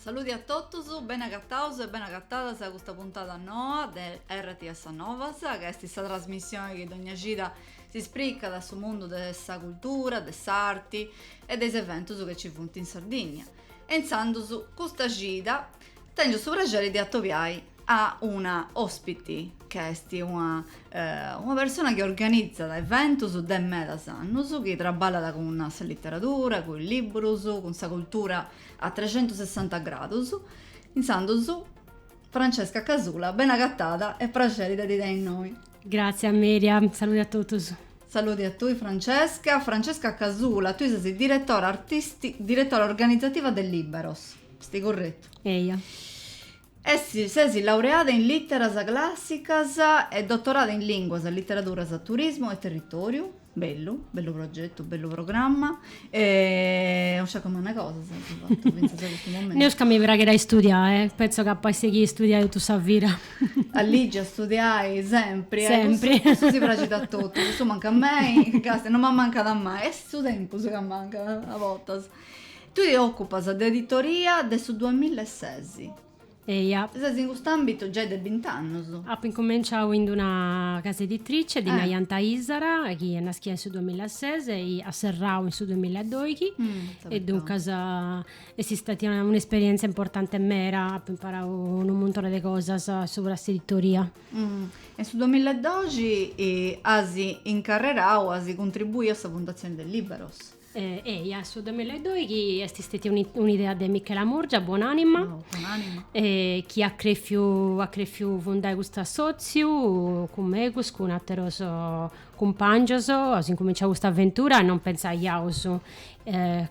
Saludi a totus, beni agataus e beni agatadas a custa puntada noa de RTS Novas, ca est sa trasmissioni chi dogna cida si spricat su mundu de sa cultura, de s'arti e de is eventus chi nci funt in Sardigna. E intzandus custa cida tengiu su praxeri de atobiai a una ospiti ca est una una persona chi organizat eventus de medas annus, chi traballat cun sa literadura, cun is libbrus, cun sa cultura a trexentusessanta gradus, intzandus Francesca Casula, ben'agatada e praxeri de ti tenni innoi. Gràtzias Myriam, salude a totus. Salude a tui Francesca. Francesca Casula, tui ses diretora artisti, diretora organizativa de Lìberos, est curretu? Eia. Est, ses laureada in Literas Classicas e dotorada in Linguas, Literaduras, Turismu e Territòriu. Bellu, bellu progetu, bellu programma e non sciaco manna cosas apu fatu fintzas a custu momentu. Neus ca mi praxit a istudiai, pentzu ca apu a sighiri a istudiai totu sa vida. A ligi, a istudiai, sempri, eh, Sempri. cussu, cussu si praxit a totus, cussu mancat mai, custu non m'ammancat mai, est su tempus ca mancat a bortas. Tui ti occupas de editoria de su duamilla e sesi. Eja. Ses in cust'àmbitu giai de bint'annus. Apu incumenciau in d'una casa editrice, ddi naiant Aìsara, chi est naschia in su duamilla e ses e at serrau in su duamilla e doighi. E duncas est statia un'esperièntzia importanti meda, apu imparau unu muntone de cosas subra s'editoria. E in su duamilla e doxi as incarrerau, as cuntribuiu a sa fundatzioni de Lìberos. Eia, su duemila e doighi est stetia un'idea de Michela Murgia, buon'anima, chi at crefiu at crefiu fundai custu assotziu cun megus, cun ateros cumpangios, aus incuminciau custa aventura e non pentzaiaus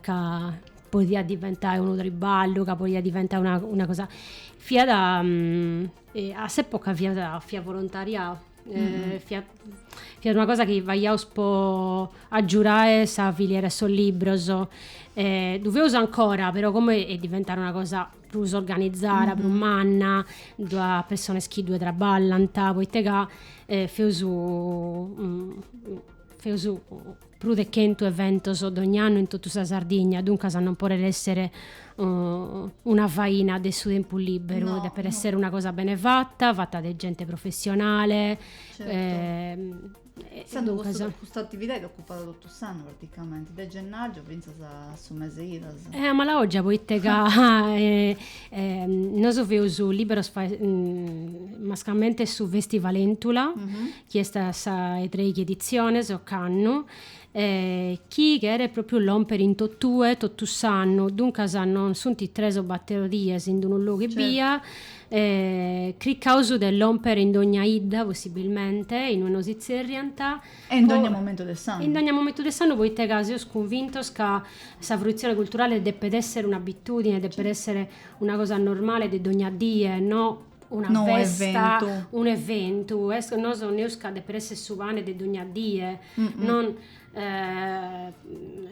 ca podiat diventai unu triballu, ca podiat diventai una cosa, fiat a s'epoca fiat fiat volontariau fiat Fiat una cosa chi faghiaus po agiurai sa filiera 'e sos libros. Ddu feus ancora, però como est diventada una cosa prus organizada, prus manna, ddu at pessones chi ddue traballant, poita ca feus feus prus de chentu eventos dogn'annu in totu sa Sardigna, duncas non podet èssere una faina de su tempus lìberu, no, depet no. èssere una cosa bene fata, fata de gente professionale. Certo. Eh, Sendo custa, custa atividade ocupat totu s'annu praticamenti, de gennàgiu fintzas a su mese 'e idas. Eh, a mala ògia, poite ca eh, eh, nosu feus Lìberos, fai, mm, mascamente su festival Éntula, mm-hmm. chi est a sa 'e treighi editziones ocannu, e chi cheret pròpiu lòmpere in totue totu s'annu, duncas non sunt tres o bator dies in unu logu ebbia, cricaus de lòmpere in dogna 'idda possibilmente, inue nos itzerriant, E in dogna momentu de s'annu. In dogna momentu de s'annu poite ca seus cunvintos ca sa fruitzione culturale depet èssere un'abitùdine, depet èssere una cosa normale de dogna die, no una no festa, eventu. un eventu, est, nosu neus ca depet esser su pane de dogna die, mm -mm. non eh,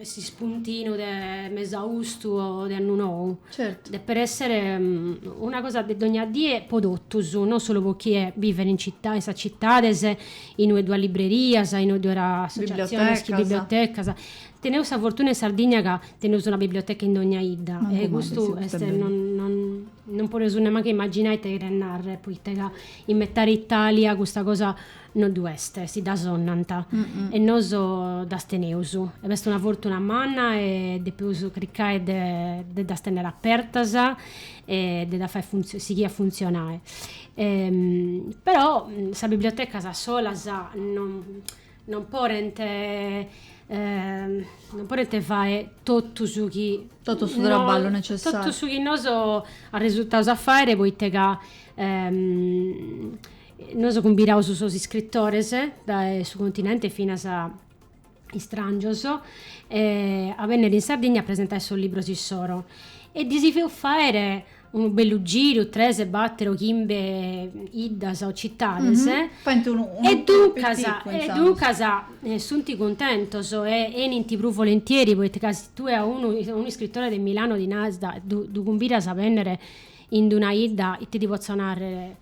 s'ispuntinu de mesaustu o de annu nou. Certo. Depet essere mm, una cosa de dogna die po totus, non solu po chie bivet in città, in sas cittades, inue ddu at librerias, inue ddu at associaziones, bibliotecas. bibliotecas Teneus sa fortuna in Sardigna ca teneus una biblioteca in dogna 'idda e custu est, non podeus nemmancu imaginai ite cheret narrer, poite ca in metade Italia custa cosa no ddu est, si dda sonnant e nosu ddas teneus. E est una fortuna manna e depeus cricae de de ddas tenner apertas e de ddas fai sighiri a funtzionae. Però sas bibliotecas solas non Non podent non podent fae totu su chi totu su traballu necessariu totu su chi nosu arresultaus a faere poite ca nosu cumbidaus sos iscritores dae su continente finas istrangios a bennere in Sardigna a presentae sos libros issoro e ddis feus faere unu bellu giru, tres, batter o chimbe 'iddas o cittades, Faint unu e duncas, e duncas sunt cuntentos e 'enint prus volentieri, poita ca si tue a unu, a unu iscritore de Milano ddi naras da, ddu, ddu cumbidas a benner in una 'idda, ite ti potzo narrer,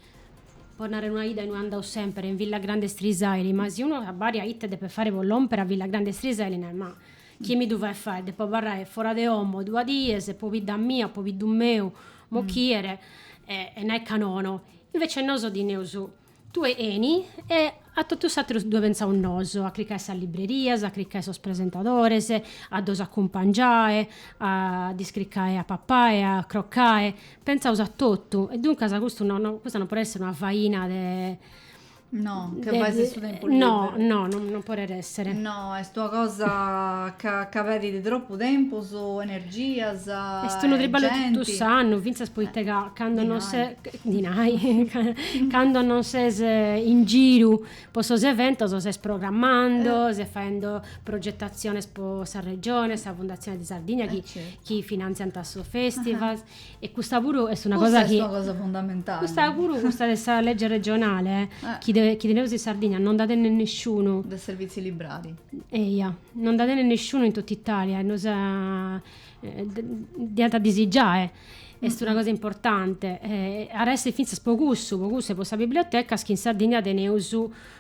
po narrer una 'idda innui andau semper, in Villagrande Strisaili, ma si unu abbàdiat ite depet faere po lomper a Villagrande Strisaili, narat ma Chie mi ddu fait fae, depo abarrae fora de omo duas dies, pobidda mia, pobiddu meu, m'ochiet, e e nai ca nono. Invece noso ti neus tue 'eni e a totu s'ateru ddue pentzaus noso, a cricae sas librerias, a cricae sos presentadores, a ddos acumpangiae, a ddis cricae a papae, a crocae, pentzaus a totu e duncas custu no no, custa no podet esser una faina de No, che fai su tempu libberu? No, no, non, non podet essere. No, est una cosa ca, ca pedit troppu tempus, energias, Est unu triballu totu s'annu, fintzas poita eh, ca cando non ses... Dinai. cando non ses in giru po sos eventos ses programmando, eh. ses faendo progettatziones po sa Regione, sa Fundatzione de Sardigna chi, eh, certu. chi finantziant sos festivals. E custa puru est una cosa chi... Custa est una cosa fundamentali. Custa puru, custa de sa lege regionale, eh. chi, de, chi teneus in Sardigna, non da tenet nesciunu. De servìtzios librarios. Eia, non da tenet nesciunu in totu Italia, e nosa... Eh, diant a ddi si giai. Est una cosa importante. Eh, arresistit fintzas po cussu, po cussu e po sas bibliotecas, chi in Sardigna teneus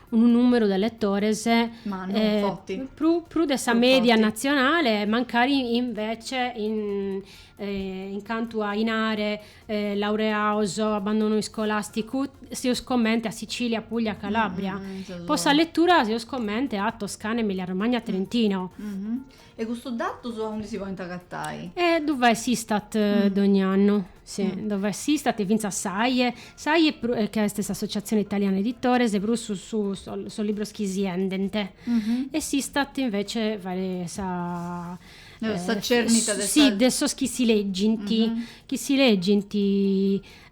unu nùmeru de letores Mannu, eh, forti. prus, prus de sa, Prus forti. media natzionale, mancari invece in, eh, in cantu a inare eh, laureados, abbandonu iscolàsticu, seus comente a Sicilia, Puglia, Calàbria. Mm, mm, mm, seus- Po sa letura seus comente a Toscana, Emilia-Romagna, Trentino. Mhm. E custus datus a undi si podint agatai? E ddu fait s'Istat dogn'annu, si, ddu fait s'Istat e fintzas s'Aie, s'Aie prus, ca est s'Associazione Italiana Editores, prus subra sos libros chi si 'endent, e s'Istat invece fait sa Sa cernita de sa. Si, de sos chi si leggint, chi si leggint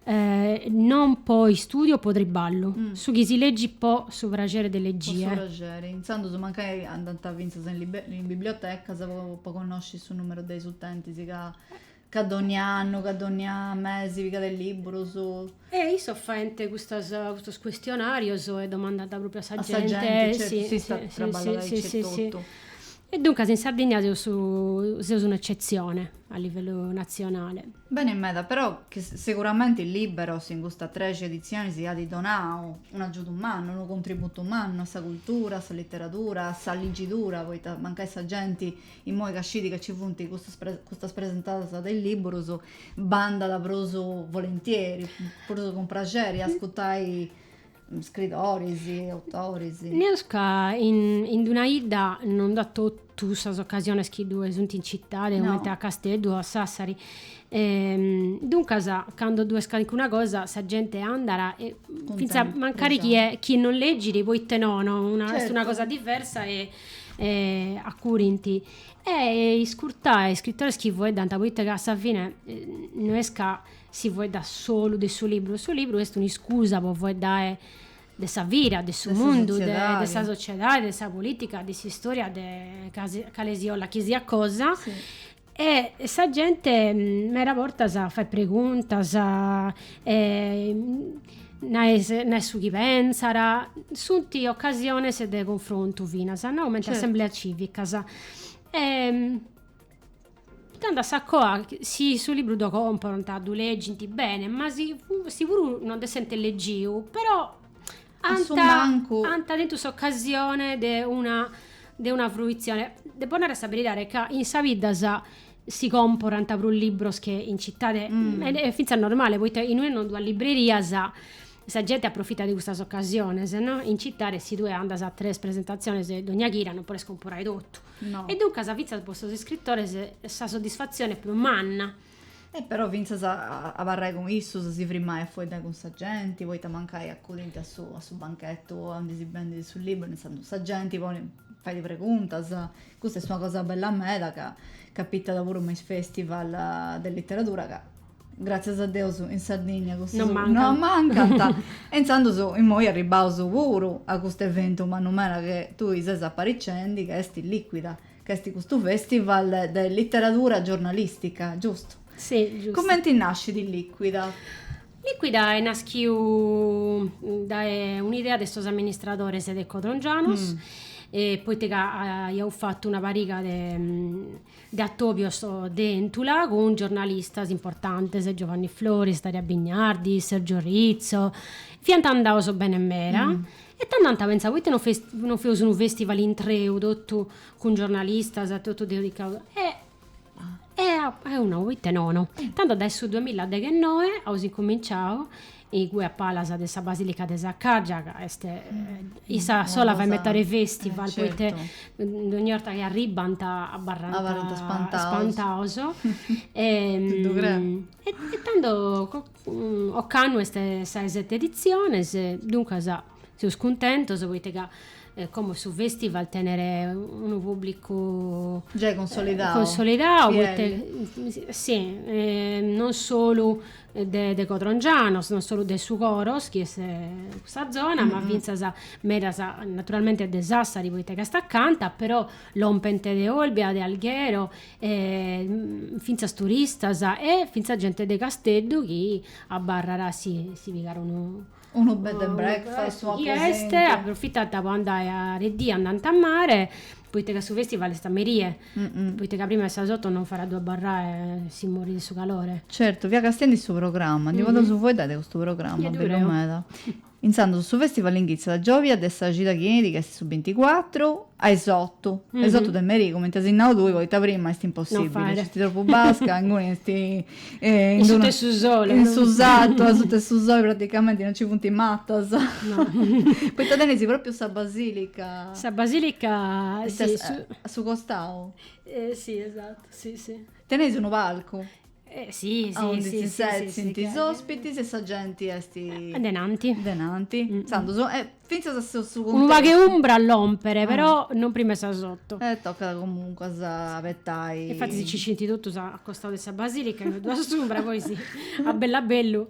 Eh, non po istudio o po triballu, mm. su chi si legit po su praxeri de legie. Po su praxeri, intzandus mancai andant fintzas in, libe- in bibliotecas po, po connosci su numeru de is utentis chi ca dogni annu, ca dogni mesi pigant liburus. E issos faint custas, custos questionarios e domandant proprio a sa gente. Sa gente certo, sì, s'Istat sì, traballat sì, sì, sì, sì. E duncas in Sardìnnia seus seus un'ecetzione a livellu natzionale. Beni meda, però seguramenti Lìberos in custas trexi editzionis at donau un'agiudu mannu, unu contributu mannu a sa cultura, a sa literadura, a sa ligidura, poita mancai sa genti imoi ca scit ca nci funt custus custas presentadas de lìburus b'andat prus volentieri, prus cun praxeri a ascutai scridoris, autoris. Naus ca in d'una 'idda non nd'at totu sas ocasiones chi ddue sunt in citade, comente a Casteddu o a Sassari. Duncas, cando ddue est calincuna cosa, sa gente andat e fintzas mancari chie non legit, poita no, est una cosa diversa e acurint. E iscurtai is scritores chi faeddant, poita ca a sa fine no est ca si faeddat solu de su libru, su libru est un'iscusa po faeddare de sa vida, de su mundu, de sa sociedade, de sa politica, de s'istoria de cale si 'ola chi siat cosa e sa gente meda bortas fait preguntas e naet su chi pensat, sunt ocasiones de cunfrontu finas, no comente assembleas civicas e Tando a sa coa, si su libru ddu comporant, ddu legint bene, ma si, si puru non ddu essent legiu, però ant, ant tentu s'ocasione de una, de una fruitzione. Depo nai sa beridade ca in sas biddas si comporant prus libros che in citade, e fintzas normale, poita in ue non ddu at librerias sa genti aprofitat de custas ocasiones, no. In citade si tue andas a tres presentatziones dogna chida non podes comporai totu. No. E duncas fintzas po sos iscritores sa soddisfatzione est prus manna. E però fintzas a, a abarrai cun issos si frimai a foeddai cun sa genti, poita mancai acudint a su, a su banchetu aundi si bendit su liburu, intzandus sa genti poni, fait preguntas, custa est una cosa bella meda ca capitat puru me is festival de literadura ca Gràtzias a Deus in Sardigna cussus no mancant e intzandus immoi arribbaus puru a custu eventu mannu meda chi tui ses aparicendi ca est Liquida, ca est custu festival de literadura giornalistica, giustu? Si, giustu. Cumenti nascit Liquida? Liquida est naschiu dae un'idea de sos amministradores de Codrongianos, poita ca aiaus fatu una pariga de de atobios de Èntula cun giornalistas importantes, Giovanni Floris, Daria Bignardi, Sergio Rizzo, fiant andados bene meda e tando ant pentzadu, proite non fest- non feus unu festival intreu totu cun giornalistas e totu dedicaus e e apu nau, proite nono. Tando dae su duamilla deghennoe aus incuminciau igue a palas de sa basilica de Saccargia ca est issa sola fai metade festival poite dogni 'orta chi arribbant abarrant spantados e tando ocannu est sa 'e sete editziones duncas Seus cuntentos poite ca como su festival tenet unu publicu. Giai consolidau. Consolidau e si non solu de codrongianos, non solu de su Coros chi est custa zona, ma fintzas medas naturalmente de Sassari poite ca est acanta, però lompent de Olbia, de Alghero, fintzas turistas e fintzas gente de Casteddu chi abarrat si pigat unu Unu bed and breakfast, una cosa simple. Est, aprofitant po andai a de dì, andant a mare, poita ca su festival est a merie, poita ca prima 'e sas oto non faet a ddu abarrai, si morit de su calore. Certu, fia castend'i su programma, ndi podeus fueddai de custu programma, bellu meda. Intzandus su festival inghitzat giòvia de sa cida chi enit chi est su binticuatru a is otu, a is otu de merie, cumenti as nau tui, poita prima est impossibili, nc'est tropu basca, inguni est Eh, in suta 'e su sole. In su satu, in suta 'e su sole praticamente non ci funt matas. No. Poita teneis propriu sa basilica. Sa basilica, sì. A su costau. Eh sì, esatto, sì, sì. Teneis unu palcu. Eh sì, sì. Aundi si setzint is ospitis e sa genti est. Denanti. Denanti. Intzandus Fintzas a su su Unu pagu 'e umbra lompet, però non prima 'e sas oto. E tocat comunquas a abetai. E infattis si setzint totus a costau de sa basìlica, ddu at s'umbra, poi si, a bellu a bellu.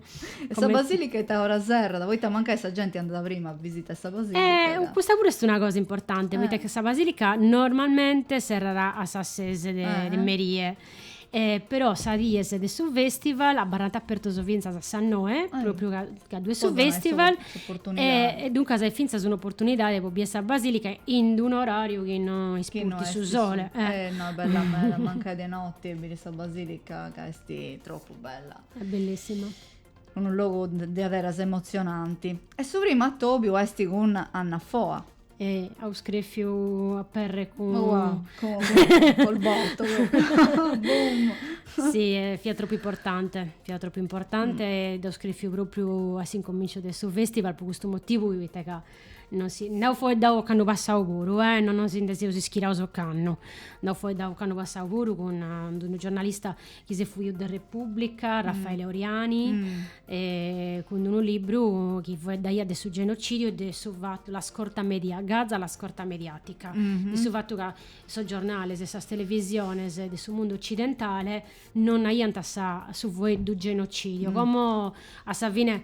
E sa basìlica a ita ora serrat? Poita mancai sa genti andat prima a bisitai sa basìlica ca. Custa puru est una cosa importanti, poita ca sa basìlica normalmente serrat a sas ses de merie. E però sas dies de su festival abarrant apertos fintzas a sas noe, pròpriu ca ca ddu est su festival, e e duncas est fintzas un'oportunidade po bider sa basìlica in d'un'oràriu chi no ispurtit su sole. Eh no, est bella meda, mancai de note biri sa basìlica ca est tropu bella. Est bellissima. Unu logu de de aberas emotzionanti. E su primu atobiu est cun Anna Foa. E aus crèfiu aperre cun. Oa, cun, col botto, boom! Si, e fiat tropu importante, fiat tropu importante e dd'aus crèfiu pròpriu a s'incomìnciu de su fèstival po custu motivu, poita ca non si, nd'aus foeddau ocannu passau puru, eh, non si nde seus ischiraus ocannu, nd'aus foeddau ocannu passau puru cun unu giornalista chi s'est fuiu de Repubblica, mm. Raffaele Oriani, mm. eh, cun unu libru chi foeddaiat de su genocidiu e de su fatto, la scorta media, Gaza, la scorta mediatica, mm -hmm. de su fatto ca sos giornales e sas televisiones de su mundu occidentale non aiant sa, su foeddu genocidio, mm. como a sa fine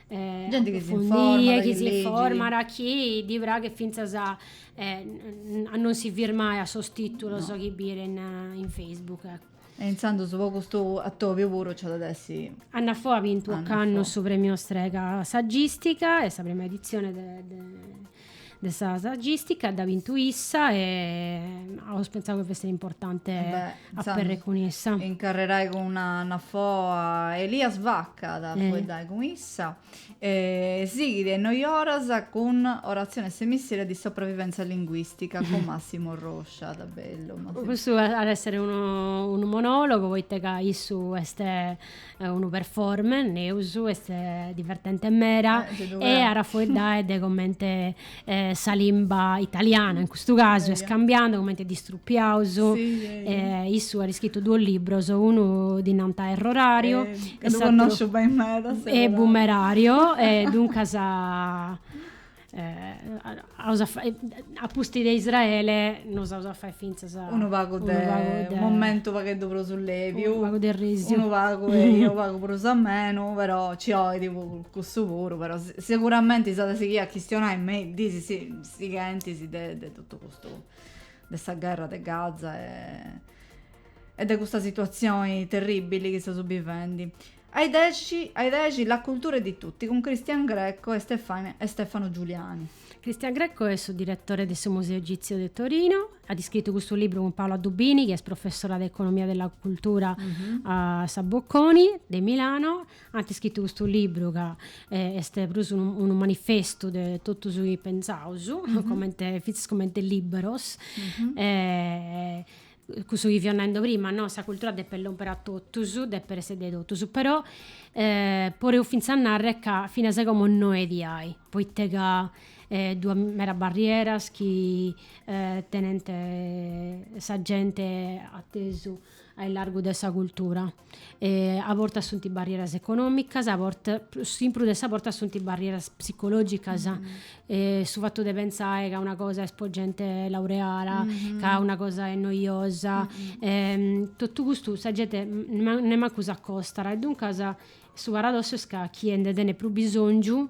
Genti chi s'informat, chi s'informat, chi ddi praghet fintzas a non si firmai a sos tìtulos chi bient in Facebook, ecco. E intzandus po custu atòbiu puru nci at a dda essi. Anna Foa at bintu ocannu su Premio Strega Saggistica est sa prima editzione de de sa saggistica dd'at bintu issa e aus pentzau chi fessit importante aperre cun issa. Incarrerai cun Anna Foa Elias Vacca at a fueddai cun issa e sighit a is noi oras cun Orazione semiseria di sopravvivenza linguistica cun Massimo Roscia, ita bellu. Custu at a essere unu monologo poita ca issu est unu performer, naraus, est divertente meda e at a fueddai de comente sa limba italiana in custu casu est cambiandu, comente dda strupiaus, issu at scritu duos libros, unu ddi nant errorariu e s'ateru boomerario e duncas a pustis de Israele nos aus a fai fintzas unu pagu de unu momentu u' pagheddu prus leviu, unu pagu de risiu, unu pagu eia u' pagu prus amenu, però ci 'olit cussu puru, però seguramenti s'at a sighiri a chistionai me is dis sighentis de de totu custu de sa gherra de Gaza e de custa situazioni terribili chi seus bivendi. A is dexi, a is dexi, la cultura è di tutti cun Christian Greco e Stefania e Stefano Giuliani. Christian Greco est su diretore de su Museu Egìtziu de Torinu, at iscritu custu libru cun Paola Dubini chi est professora de economia della cultura a sa Bocconi de Milano, ant iscritu custu libru ca est prus unu unu manifestu de totu su chi pensaus comente fintzas comente Lìberos cussu chi fio nendo prima, no? Sa cultura depet lomper a totus, depet esser de totus, però podeus finzas a narrer ca finas a como no est diai, poite ca ddu at medas barrieras chi tenent sa gente atesu a illargu de sa cultura. a bortas sunt barrieras econòmicas, a bortas, prus in prus de sas bortas sunt barrieras psicològicas, su fatu de pentzai ca una cosa est po genti laureada, ca una cosa est noiosa, totu custu sa genti nemancu s'acostat e duncas su paradossu est ca chie nde tenit prus bisòngiu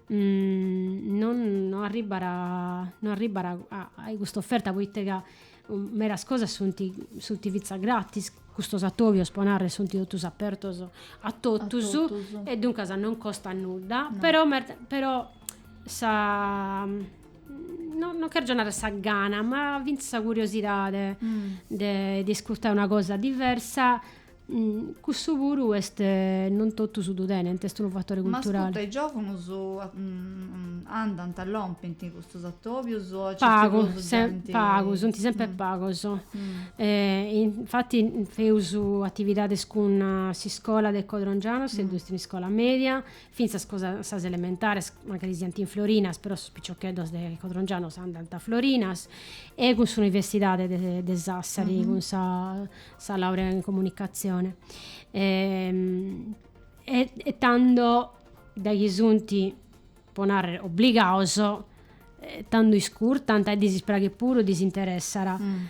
non arribat a custa oferta poita ca Medas cosas sunt sunt fintzas gratis, custos atòbios po narrer sunt totus apertos a totus e duncas non costat nudda, però però sa non cherzo narrer sa gana ma fintzas sa curiosidade de de iscurtai una cosa diversa Mm, cussu puru est, eh, non totus ddu tenent, est unu fatore Ma culturale. ascurta, is giòvunus a- mm, andant, lompint a custus atobius o nc'est Pagu, prus sem- genti? pagu, sunt sempre Mm. pagos. Mm. Eh, infati feus atividades cun eh, s'iscola de Codrongianos, e ddus in iscola media, fintzas cun sas elementares, mancari siant in Florinas, però sos piccioccheddos de Codrongianos andant a Florinas, e cun s'universidade de de Sassari, cun sa sa laurea in comunicatzione e, e tando dae chi sunt, pro narrer, obligados e tando iscurtant e ddis praghit puru, ddis interessat. Mm.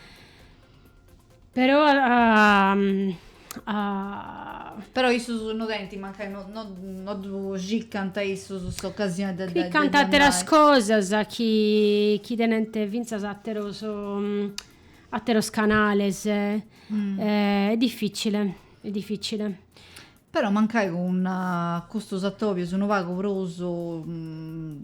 Però uh, uh, però issus no tenint mancai no, no, no ddu circant issus s'occasione de, de circant atteras cosas chi, chi tenent finzas atteros um, Atteros canales, mm. eh, è difficile, è difficile. Però mancai cun uh, custos atobios unu pagu prus mm,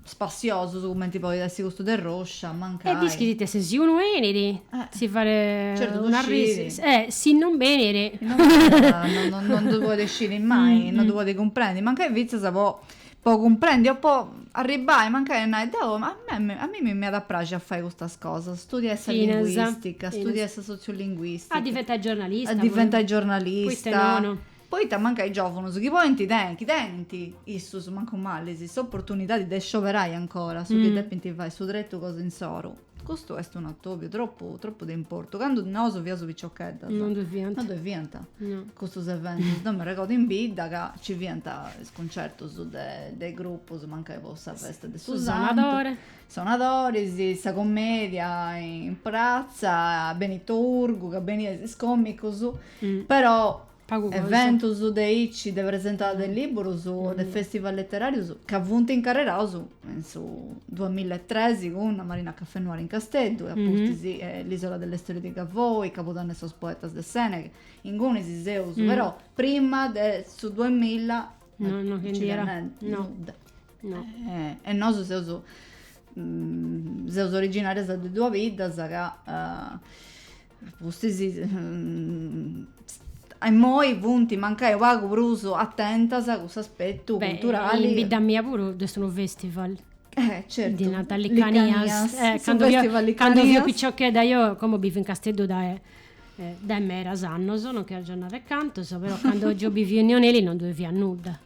spassiosos cumenti podit essi custu de Roscia, mancai. E ischis tue si unu enit, eh. si fare certo, una risi, eh, si non benit. Non, non, non, non, non ddu podit sciri mai, mm, non ddu mm. podit cumprendi, mancai finzas po po cumprendi o po arribbai mancai a nai deu a mei a mimmi mi iat a praxi a fai custas cosas studiai sa Finas, linguistica finas. studiai sa sotziulinguistica A diventai giornalista a puru. diventai giornalista Poita nono? poita mancai giovunus chi podint tenni chi tenint issus mancu mali s'opportunidadi de scioberai ancora su chi depint fai su tretu cosa insoru Custu est un atòbiu tropu tropu de importu. Candu nosu fiaus piciocheddas. No ddoi fiant. No ddoi fiant. No. Custus eventus. Deu mi arregodu in bidda ca nci fiant is cuncertus de de grupus, mancai po sa festa de su santu. Su sonadori. Sonadori, si, sa comedia in pratza, Benito Urgu ca beniant is comicus, però Eventus de aici, de presentada de lìburus o de fèstival leteràrius ca funt incarreraus in su duas milla e tres cun Marina Café Noir in Casteddu e a pustis L'Isola delle storie di Gavoi, Cabudanne de sos poetas de Sèneghe. Ingunis seus però prima de su duas milla e nosu seus seus originàrias de duas biddas ca Pustis immoi funt mancai unu pagu prus atentas a cuss'aspetu culturali. In bidda mia puru ddu est unu festival. Eh certu. Ddi nant Licanias. Su festival Licanias. Cando fio piciochedda deo, como bivu in Casteddu dae dae medas annos, non chi agiu a narrer cantos, però cando agiu biviu in Neoneli non ddue fiat nudda.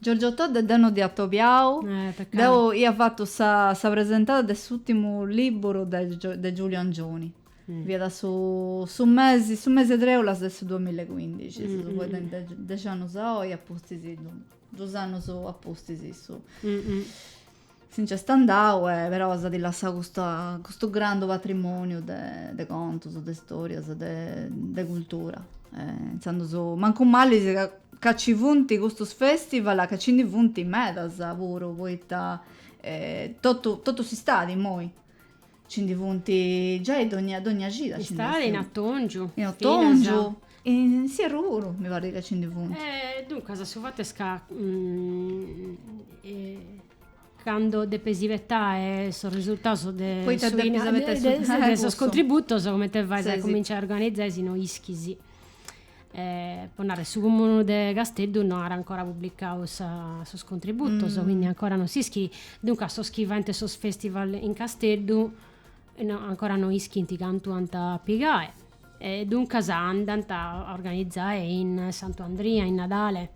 Giorgio Todde deu no dd'ia atobiau, deu ia fatu sa sa presentada de s'ùrtimu lìburu de de Giulio Angioni, fiat su su mesi su mesi 'e trèulas de su duamilla e cuindixi, si seus fadendi dexi annus a oi apustis, dus annus apustis issu Si nc'est andau e però s'at lassau custa custu grandu patrimoniu de de contus, de storias, de de cultura. Intzandus mancu mali si ca ca ci funt custus festivals ca ci ndi funt medas puru, poita totu totu s'istadi immoi Ci ndi funt giai dogna, dogna cida. Istadi, in atongiu. In atongiu. In s'ierru puru, mi parit ca ci ndi funt. E duncas, su fatu est ca candu depis ispetai sos risurtaus de Poita depis ispetai su. De sos contributus, cumenti fais a cuminciai a organizai si no ischis. po narrer su cumunu de Casteddu no at ancora publicau sa sos contributos quindi ancora no s'ischit duncas sos chi faint sos festival in Casteddu no ancora no ischint cantu ant a pigai e duncas andant a organizai in Santu Andria in Nadale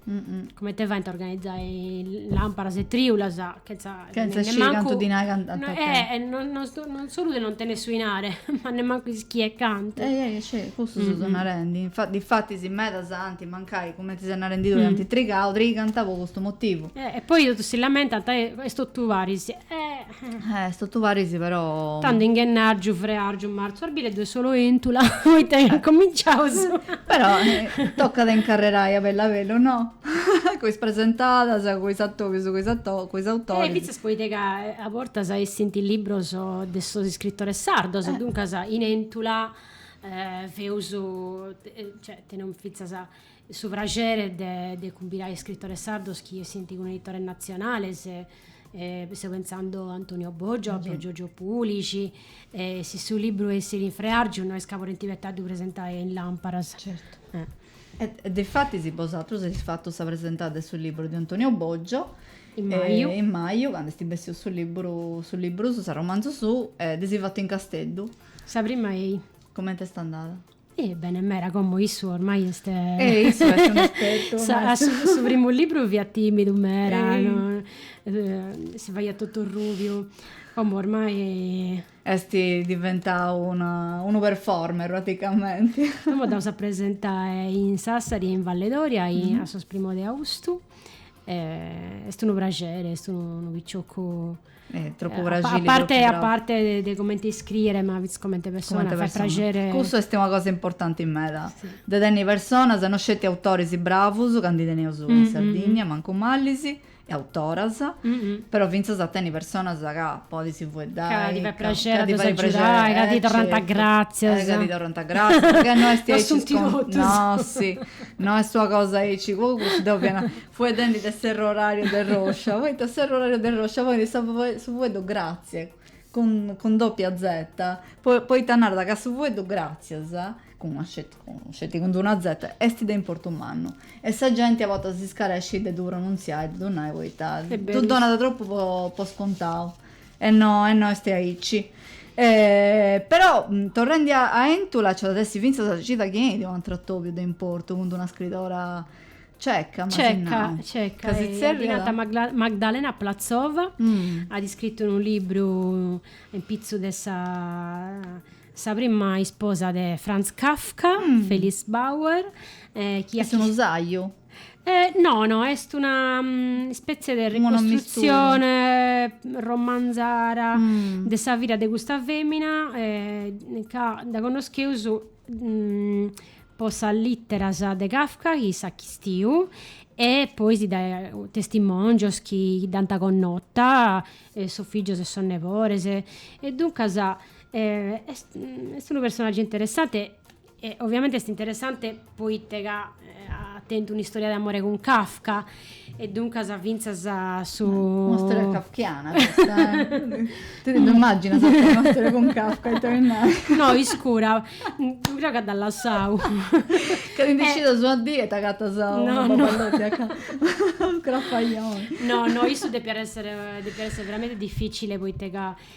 comente faint a organizai lamparas e triulas chenza Chenza sciri cantu dinai ant a tenni. Eh, non, non, non solu de non tenere su inare, ma nemmancu ischire cantu. Eh, eh, scì, cussu si so narendi. Infa, difatis medas anti mancai, cumenti ses narendi tui, anti trigau, trigant po custu motivu. Eh, e poi totus si lamentant, eh, est totu paris. Eh. Eh, est totu paris, però. Tando in ghennargiu, freargiu, martzu, arbile ddoi est solu Entula, poita chi incominciaus. Però, tocat a incarrerai a bellu a bellu, no? Cu is presentadas, cu is atoris, cu is ato, cu is autoris. E fintzas poita ca a bortas essint libros de sos iscritores sardos, duncas in Entula feus, cioè teneus fintzas su praxeri de de cumbirai iscritores sardos chi essint cun editores natzionales, e seu pentzando a Antonio Boggio, a Piergiorgio Pulixi, e si su libru essit in freargiu no est ca podint abetai a ddu presentai in Lamparas. Certu. E difatis bosatrus eis fatu sa presentada de su liburu de Antonio Boggio, in maju, in maju candu est bessiu su liburu, su liburu suu, s'arromanzu suu, e dd'eis fatu in Casteddu. Sa prima ei. Cumenti est andada? Eh, bene meda, como issu ormai est. Eh, issu est unu espertu. Sa, a su, su primu liburu fiat timidu meda, no, si faiat totu rubiu, como ormai. Est diventau unu performer praticamenti. Como andaus a presentai in Sassari e in Valledoria a sos primos de austu. Est unu praxeri, est unu piciocu. Tropu praxiri. A parte a parte de cumenti iscriet ma finzas cumenti persona fait praxeri. Cussu est una cosa importanti meda. De tenni personas, no sceti autoris bravus, ca ndi teneus in Sardigna, mancu malis, e autoras, però fintzas a tenni personas ca podis fueddai, ca ti fait praxeri a ddus agiudai, ca ti torrant gratzias, ca ti torrant gratzias, ca no est aici iscontau, nossi, no est una cosa aici, po cussu deu fia fueddendi de s'errorariu de Roscia, poita s'errorariu de Roscia ponit sa su fueddu gratzias, cun cun doppia zeta, po poita narat ca su fueddu gratzias, cun una Sceti cun d'una zeta est de importu mannu e sa genti a bortas iscarescit de ddu pronunziai, de ddu nai poita ddu donat tropu po scontau e no e no est aici. Però torrendi a Entula nci at essi fintzas sa cida chi enit u' atru atobiu de importu cun d'una scridora ceca, m'as nau, ca si tzerriat. Magdalena Platzova at iscritu unu libru in pitzus de sa Sa prima isposa de Franz Kafka, Felice Bauer, chi est unu sàgiu? No, no, est una ispètzie de ricostrutzione romanzara de sa vida de custa fèmina ca dda connoscheus po sas lìteras de Kafka chi s'at chistiu e poi si dae testimòngios chi dd'ant connota, sos fìgios e sos nebores. E duncas Est unu personaggiu interessante e oviamenti est interessante poite ca at tentu un'istoria de amore cun Kafka e duncas fintzas su. Una storia kafkiana custa eh. Ti ddu immagginas a tenni una storia cun Kafka ita mi nai. No, iscura, creo ca dd'at lassau. Ca ti ndi scidas una dì e t'agatas unu baballotti a Kafka. Scrafajoni. No no issu depiat esser depiat esser veramenti difficile poite ca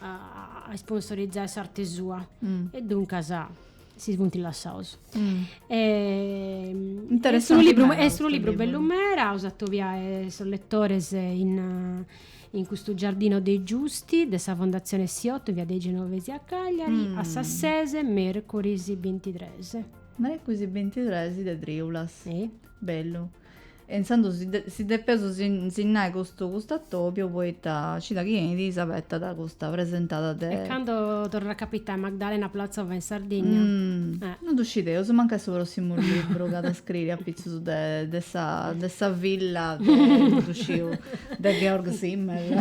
a sponsorizai s'arte sua e duncas si funt lassaus. Est unu libru est unu libru bellu meda, aus a atobiai sos letores in in custu Giardino dei Giusti de sa Fondatzione Siotto in via dei Genovesi a Cagliari a sas ses mercoris bintitres. Mercoris bintitres de triulas. Bellu. E intzandus si depeus sinnai custu atòbiu poita cida chi 'enit s'abetat custa presentada de. E cando torrat a capitai Magdalena Platzova in Sardinnia? Umm. Non ddu scideus, mancai su prossimu libru ch'at a scriri apitzus de de sa de sa filla de non ddu sciu de Georg Simmel.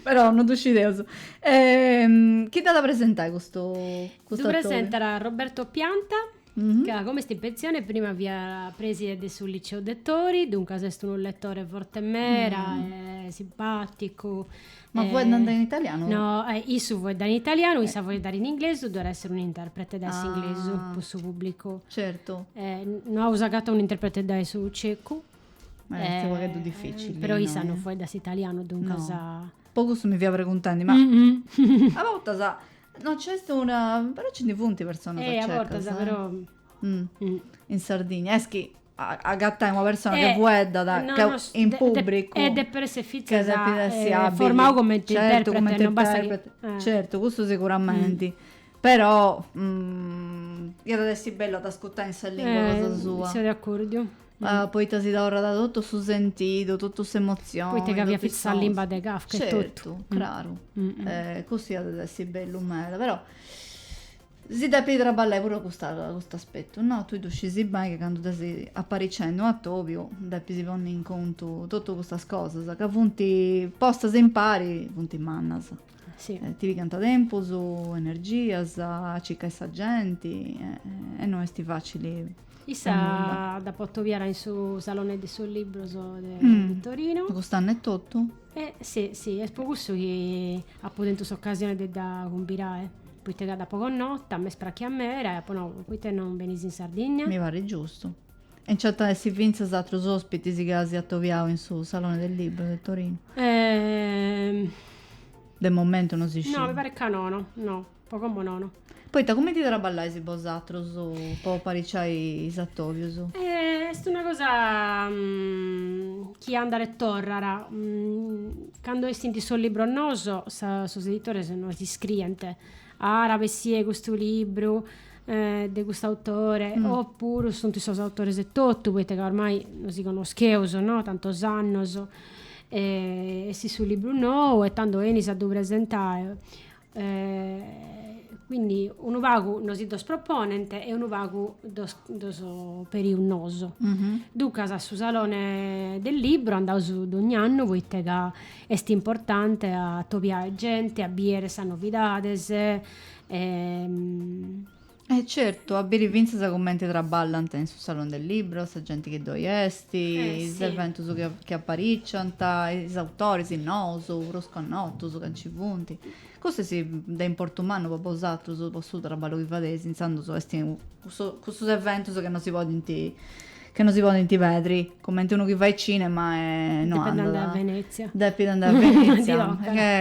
Però non ddu scideus. Chi dd'at a presentai custu atòbiu? Ddu presentat Roberto Pianta. Mhm. ca como est in pensione prima fiat preside de su Liceu Dettori, duncas est unu letore forte mera mm. e simpaticu. Ma e... fueddant in italianu? No, eh, issu fueddat in italianu, issa eh. fueddat in inglesu, ddoe at essere un interprete da ah. s'inglesu po su pubblicu. Certo. Eh, no aus agatau un interprete da su cecu. Ma eh, è un po' difficile. Però issa no, no fueddat italianu, duncas... No. Pogus mi fia preguntandi, ma... Mm -hmm. a bortas... No, c'est una... però ci ndi funt personas Eh, a a cecas bortas, eh. però... Mm. Mm. In Sardigna, est chi a- agatai una persona che Eh, fueddat, no, che no, s- in de- de- pubbricu, eh, depit essi fintzas, che depit essi eh, abili, formau cumenti certu, interprete, cumenti non bastat chi- interprete, eh. certu, cussu siguramenti, però iat essi bellu a dd'ascutai in sa lingua cosa Eh, sua. seu de accordiu. poita si torrat totu su sentidu, totu s'emozioni, Poita ca fiat sa limba de Kafka e totu. Certu, craru. Cussu iat a essi bellu meda, però si depit traballai puru a custa a custu aspettu, no? Tui ddu scisi beni ca candu ses aparicendu un'atobiu depis ponni in contu totu custas cosas ca funt postas impari, funt mannas. Si. Eh, ti pigant tempus, energias, a circai sa genti e, e no esti facili. Issa dd'apo atobiara in su Salone de sos Libros de, mm. de Torino. Cust'anno e totu? Eh, sì, sì, est po cussu chi apo tentu s'occasione de dda cumbirai, poita ca dd'apo connota, m'est prachia mera e apo nau, poita non benis in Sardigna? Mi parit giustu. E nci at a essi fintzas atrus ospitis ca eis atobiau in su Salone del Libro de Torinu? Ehm. De momentu no si scit. No, mi parit ca nono, no, po como nono. Poita cumenti traballais bosatrus po apariciai is atobius? Est una cosa chi andat e torrat. Candu essint is sos libros noos, sos editores nos iscrient, At a bessie custu libru de custu autore o puru sunt is sos autores etotu, poita ca ormai nosi connoscheus, no, tantos annos. Essit su libru nou e tando 'enis a ddu presentai. Quindi unu pagu nosi ddos proponent e unu pagu ddos ddos perius nosu. Duncas a su salone del libro andaus dogni annu poita ca Est importante a atobiare gente, a biere sas novidades e. E certu, a biri fintzas cumenti traballant in su Salone del Libro sa genti chi ddoi est, is eventus chi apariciant, is autoris nous, prus connotus, ca nci funt. Custu est de importu mannu po bosatrus, po su traballu chi fadeis, intzandus est cussus eventus chi non si podint. Ca no si podint pedri. Cumenti unu chi fait cinema e no andat. Depit andai a Venezia. Depit andai a Venezia.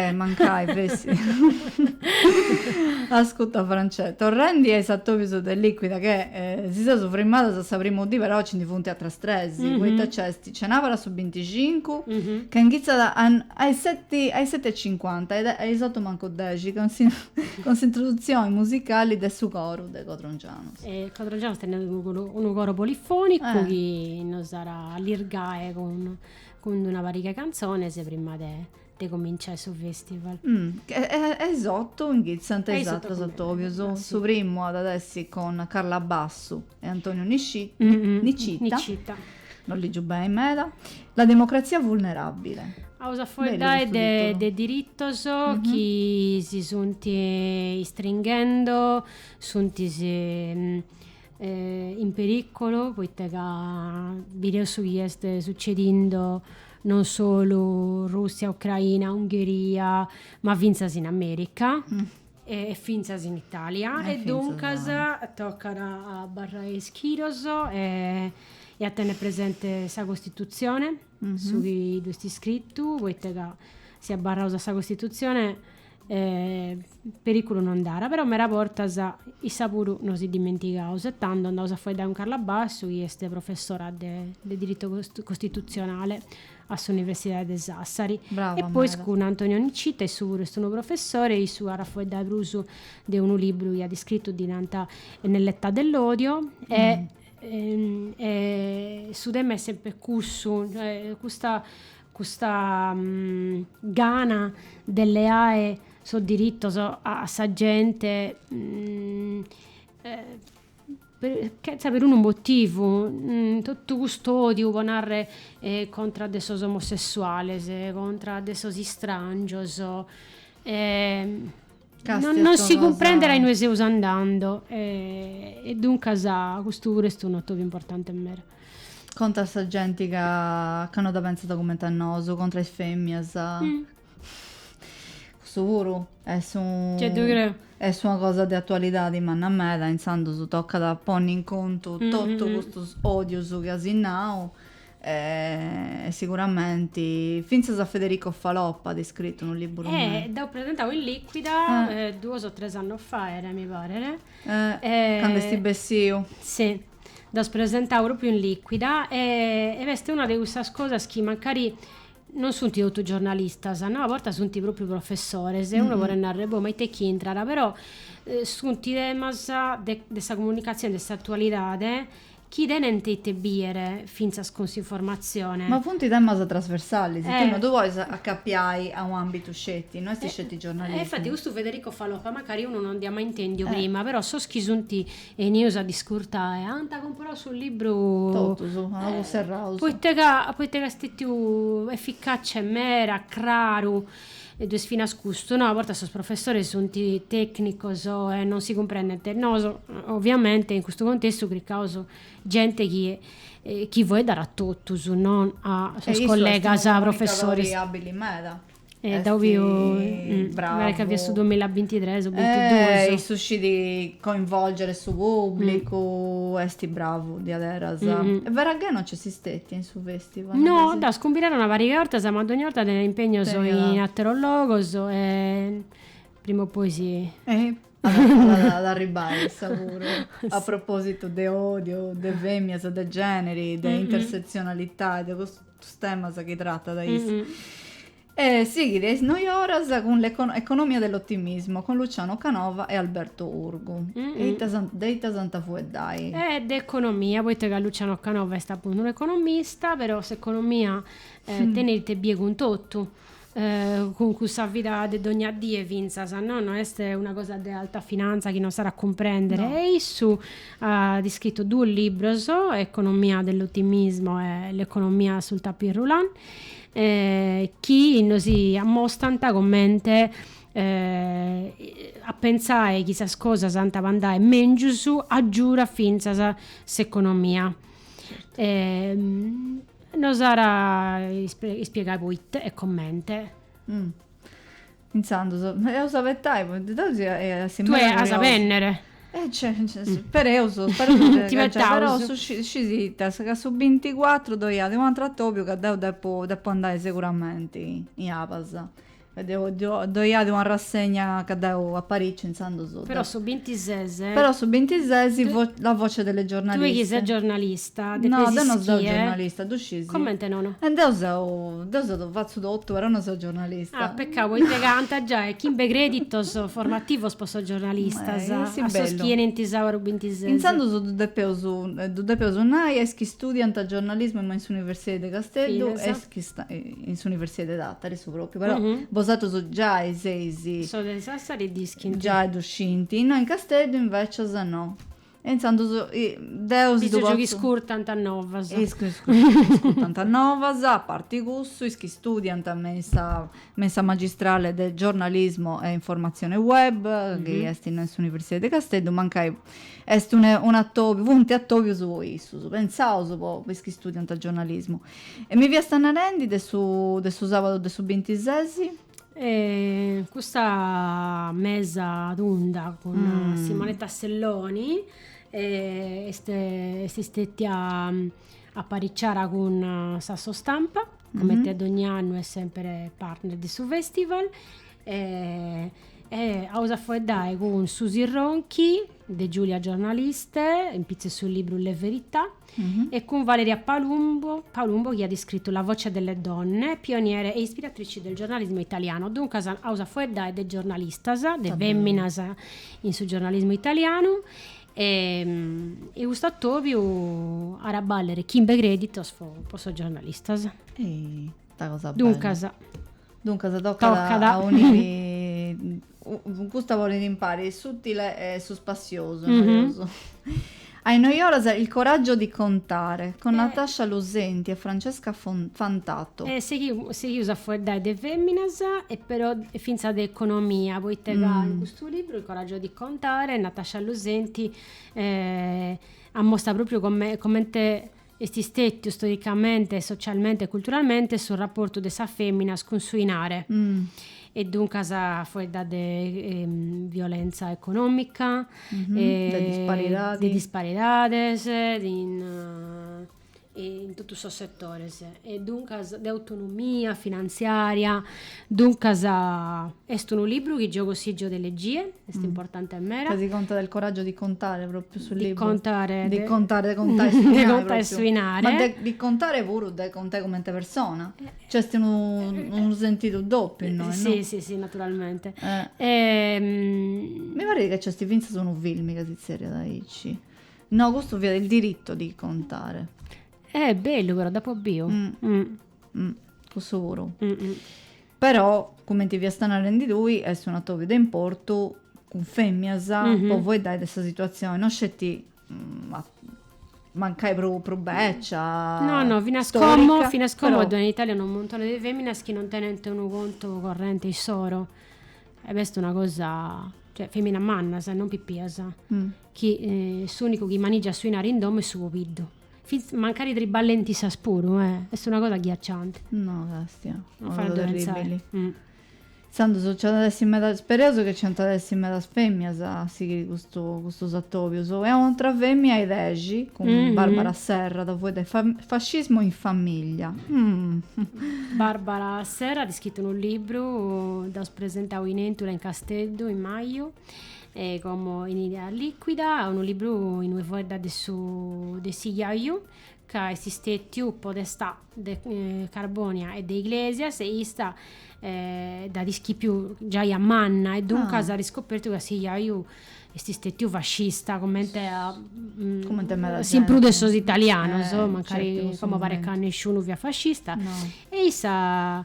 E mancai fessit. Ascuta Francè, torrendi a is atobius de Liquida che si seus frimadas a sa prima dì però nci ndi funt atras tres, poita nc'est cenabara su binticincu, ca inghitzat a is seti a is seti e cincuanta e a is otu mancu dexi cun s'introduzioni musicali de su coru de Codrongianu. Codrogianos tenet unu coro polifonicu chi nos at a allirgai cun cun una pariga 'e cantzones prima de de cominciai su festival. E is otu inghitzant is atrus atobius. Su primu at a essi cun Carla Bassu e Antonio Nicita, non ligiu beni meda, La democrazia vulnerabile. Aus a faeddai de diritos chi si sunt istringhendo Sunt in perìcolo poita ca bideus su chi est sucedindo non solu Rùssia, Ucraina, Ungheria, ma fintzas in Amèrica e fintzas in Itàlia. E duncas tocat a abarrai ischidos e a tenni presenti sa Costitutzioni, su chi ddu est iscritu, poita ca si abarraus a sa Costitutzioni periculu no nd'at però mera bortas issa puru nosi dimentigaus e tando andaus a faeddai cun Carla Bassu chi est professora de de diritu costitutzionale a s'universidadi de Sassari e poi cun Antonio Nicita issu puru est unu professori e issu at a faeddai prus de unu liburu chi at iscritu ddi nant Nell'età dell'odio e su tema est sempri cussu custa custa gana de leare sos diritos a sa gente chetza perunu motivu totu cust'odiu po narrer contra de sos omosessuales contra de sos istràngios Castia non si cumprendet a inue seus andando e, e duncas custu puru est un'atobiu importante meda. Contra a sa genti ca, ca no dda pensat cumenti a nosu, contra is feminas. Mm. Custu puru est un Gei ddu creu. Est una cosa de atualidadi manna meda, intzandus tocat a ponni in contu totu custus odius chi as nau E siguramenti fintzas Federico Faloppa at iscritu unu liburu me. Eh, dd'aus presentau in Liquida duos o tres annos faet, mi paret. Eh, cando est bessiu. Si, dd'aus presentau propriu in Liquida e e est una de cussas cosas chi mancari non sunt totus giornalistas, no, a bortas sunt propriu professores e unu podet narrer, boh, ma ite ch'intrat, però sunt temas de de sa comunicatzioni, de s'atualidade Chi tenent ite bìere fintzas cun s'informatzione. Ma funt temas trasversalis, tue no ddu podis acapiai a un'àmbitu sceti, no est sceti giornalismu. E infati custu Federico Faloppa macari unu non dd'ia mai intèndiu prima, però sos chi sunt 'enius a dd'iscurtai ant cumporau su libru. Totus, anaus serraus. Poita ca est stetiu eficaci e mera, craru. E ddu est finas custu, no? A bortas sos professores sunt tècnicos e non si cumprendent. Nos, oviamente, in custu contestu cricaus gente chi chi faeddat a totus, non a sos collegas professores. E issu est unu comunicadore àbili meda. E deu fio, mi paret ca fiat su duamilla e bintitres o bintiduus. E issu scit coinvolgere su pùblicu, est bravu diaderus. Veraghè non nc'est stetiu in su. No, dd'aus cumbirada una pariga 'e 'ortas, ma dogni 'orta tenit impegnos in ateros logos e prima o poi si, at a arribbai issa puru. A propositu de odiu, de femias, de generi, de intersezionalità e de custus temas chi tratat issa. E sighit is noi oras cun l'economia dell'ottimismo con Luciano Canova e Alberto Urgu. E ita s'ant, de ita s'ant a fueddai? E de economia, poita ca Luciano Canova est apuntu unu economista, però s'economia tenit ite bie cun totu, cun cussa vida de dogna die fintzas, no, no est una cosa de alta finanza chi non s'at a cumprèndere. E issu at iscritu duos libros, Economia dell'ottimismo e L'economia sul tapis roulant. chi nos ammostant comente a pentzai chi sas cosas ant a andai mèngius agiurat fintzas s'economia. Nos ara ispiegai poita e comente. Intzandus, eus a abetai, poita deu emu a essi meda curiosu. Tue as a bennere. E ce, spereus, spereus de acudiri, però su scisitas ca su binticuatru ddoi at un'atru atobiu ca deu depu depu andai seguramenti in Abas. Ddoi at una rassegna ca deu apariciu intzandus. Però su bintises. Però su bintises la voce delle giornaliste. Tue chi ses giornalista. No, deu no seu giornalista, ddu scis? Comente nono? E deu seu, deu seu, fatzu totu, però no seu giornalista. Ah, peccau, poita ca ant a giai chimbe creditos formativos po sos giornalistas, a sos chi 'enint su sàuru bintises. Intzandus ddu depeus, ddu depeus nai a is chi studiant giornalismu me in s'universidadi de Casteddu e is chi in s'universidadi de Tàtari su pròpriu, però bosatrus giai seis, sos de Sassari dd'iscint, giai ddu scint, innoi in Casteddu invècias no. E intzandus deu si ddu potzu. Is chi scurtant novas. Is chi scurtant novas, a parti cussu, is chi studiant me in sa me in sa magistrale de giornalismo e informazione web, chi est in s'Universidadi de Casteddu, mancai est un un atobiu, funt atobius po issus, pentzaus po is chi studiant giornalismo. E mi fiasta narendi de su de su sabadu de su bintisesi. E custa mesa tunda cun mm. Simonetta Selloni eh, est, est istetia aparicciada cun eh, s'Assostampa, comente mm-hmm. a ogni annu est sempre partner de su festival. E, e aus a foeddai cun Susi Ronchi de Giulia Giornaliste, in pizzu 'e su libru Le Verità. e cun Valeria Palumbo, Palumbo chi at iscritu La voce delle donne, pioniere e ispiratrici del giornalismo italiano. Duncas aus a faeddai de giornalistas, de fèminas in su giornalismu italianu e, e custu atòbiu at a bàllere chimbe crèditos po sos giornalistas. Sta cosa bene. Duncas. Duncas tocat, tocat. a uniri custu ponit impari s'utile e su spassiosu, noiosu. A is noi oras il coraggio di contare con Natascia Lusenti e Francesca Fantato. E seghiu, seghius a fueddai de feminas e però finzas de economia, poita ca in custu libru il coraggio di contare Natascia Lusenti at mostau propriu comente Est stètiu storicamente, socialmente e culturalmente su raportu de sas fèminas cun su 'inare', e duncas faeddat de violentza econòmica, de disparidades, in totus sos setores, e duncas de autonomia finantziària. Duncas est unu libru chi geo cussìgio de leggie, est importante meda. Eh si contat de il coraggio di contare propriu su libru. Di contare. Di contare, de contai su 'inai. De contai su 'inare. Ma de di contare puru de contai cumenti persona. Nc'est unu sentidu dòpiu innoi. Si, si, si, naturalmente. Mi parit chi nc'est fintzas unu filmi ca si tzerriat aici. No, custu fiat il diritto di contare. Eh bellu però, d'apo biu. Mm, cussu puru. Mm-mm. Però, cumenti fiast narendi tui, est un atobiu de importu cun fèminas mm-hmm. po fueddai de sa situazioni, no sceti mm, a mancai pro, pro beccia no no finas storica, como finas como però... in Italia unu montone de feminas chi non tenent unu contu corrente issoro e b'est una cosa cioè feminas mannas non pipias mm. chi eh, s'unicu chi manigiat su inari in domo est su pobiddu Fintzas mancari triballent issas puru, eh. Est una cosa agghiaccianti. No, càstia. No faeddint penzai. Mm. Intzandus nci at a essi meda, sperèus ca nci ant a essi medas fèmias a sighiri custu custus atòbius. E un'atra fèmia a is dexi, cun Barbara Serra, at a fueddai de Fascismo in famiglia. Barbara Serra at iscritu unu libru, dd'aus presentau in Èntula in Casteddu in maju, E como in idea liquida, unu libru in ue fueddha de su de si jaiu ca est stetiu podestà de Carbonia e de Iglesias e ista dh'at ischipiu giai a manna e duncas at iscopertu ca si jaiu est stetiu fascista comente a comente meda si in prus de sos italianos mancari como paret ca nesciunu fiat fascista e issa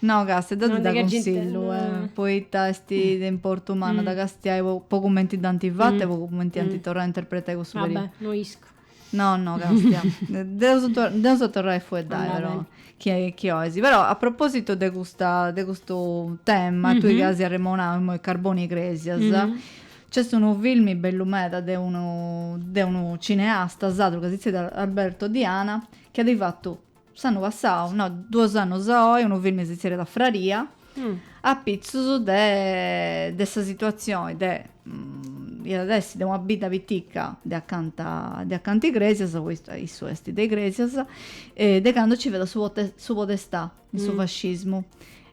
No castia ti dda cunsillu poita est de importu mannu dda castiai po cumenti dd'ant fata e po cumenti ant torrau a interpretai cussu periodu. No no castia. Dd'eus a torrai a fueddai però chi ois. Però a propositu de custa de custu tema tui ca as arremonau imoi Carbonia Igresias nc'est unu filmi bellu meda de unu de unu cineasta sardu ca si zerriat Alberto Diana chi at fatu S'annu passau, no, duos annus a oi, unu filmi si zerriat Fraria, apitzus de de sa situazioni de iat a essi de una bidda pitica de acanta de acanta Igrèsias, poita issu est de Igrèsias, de candu nci fiat su su podestà in su fascismu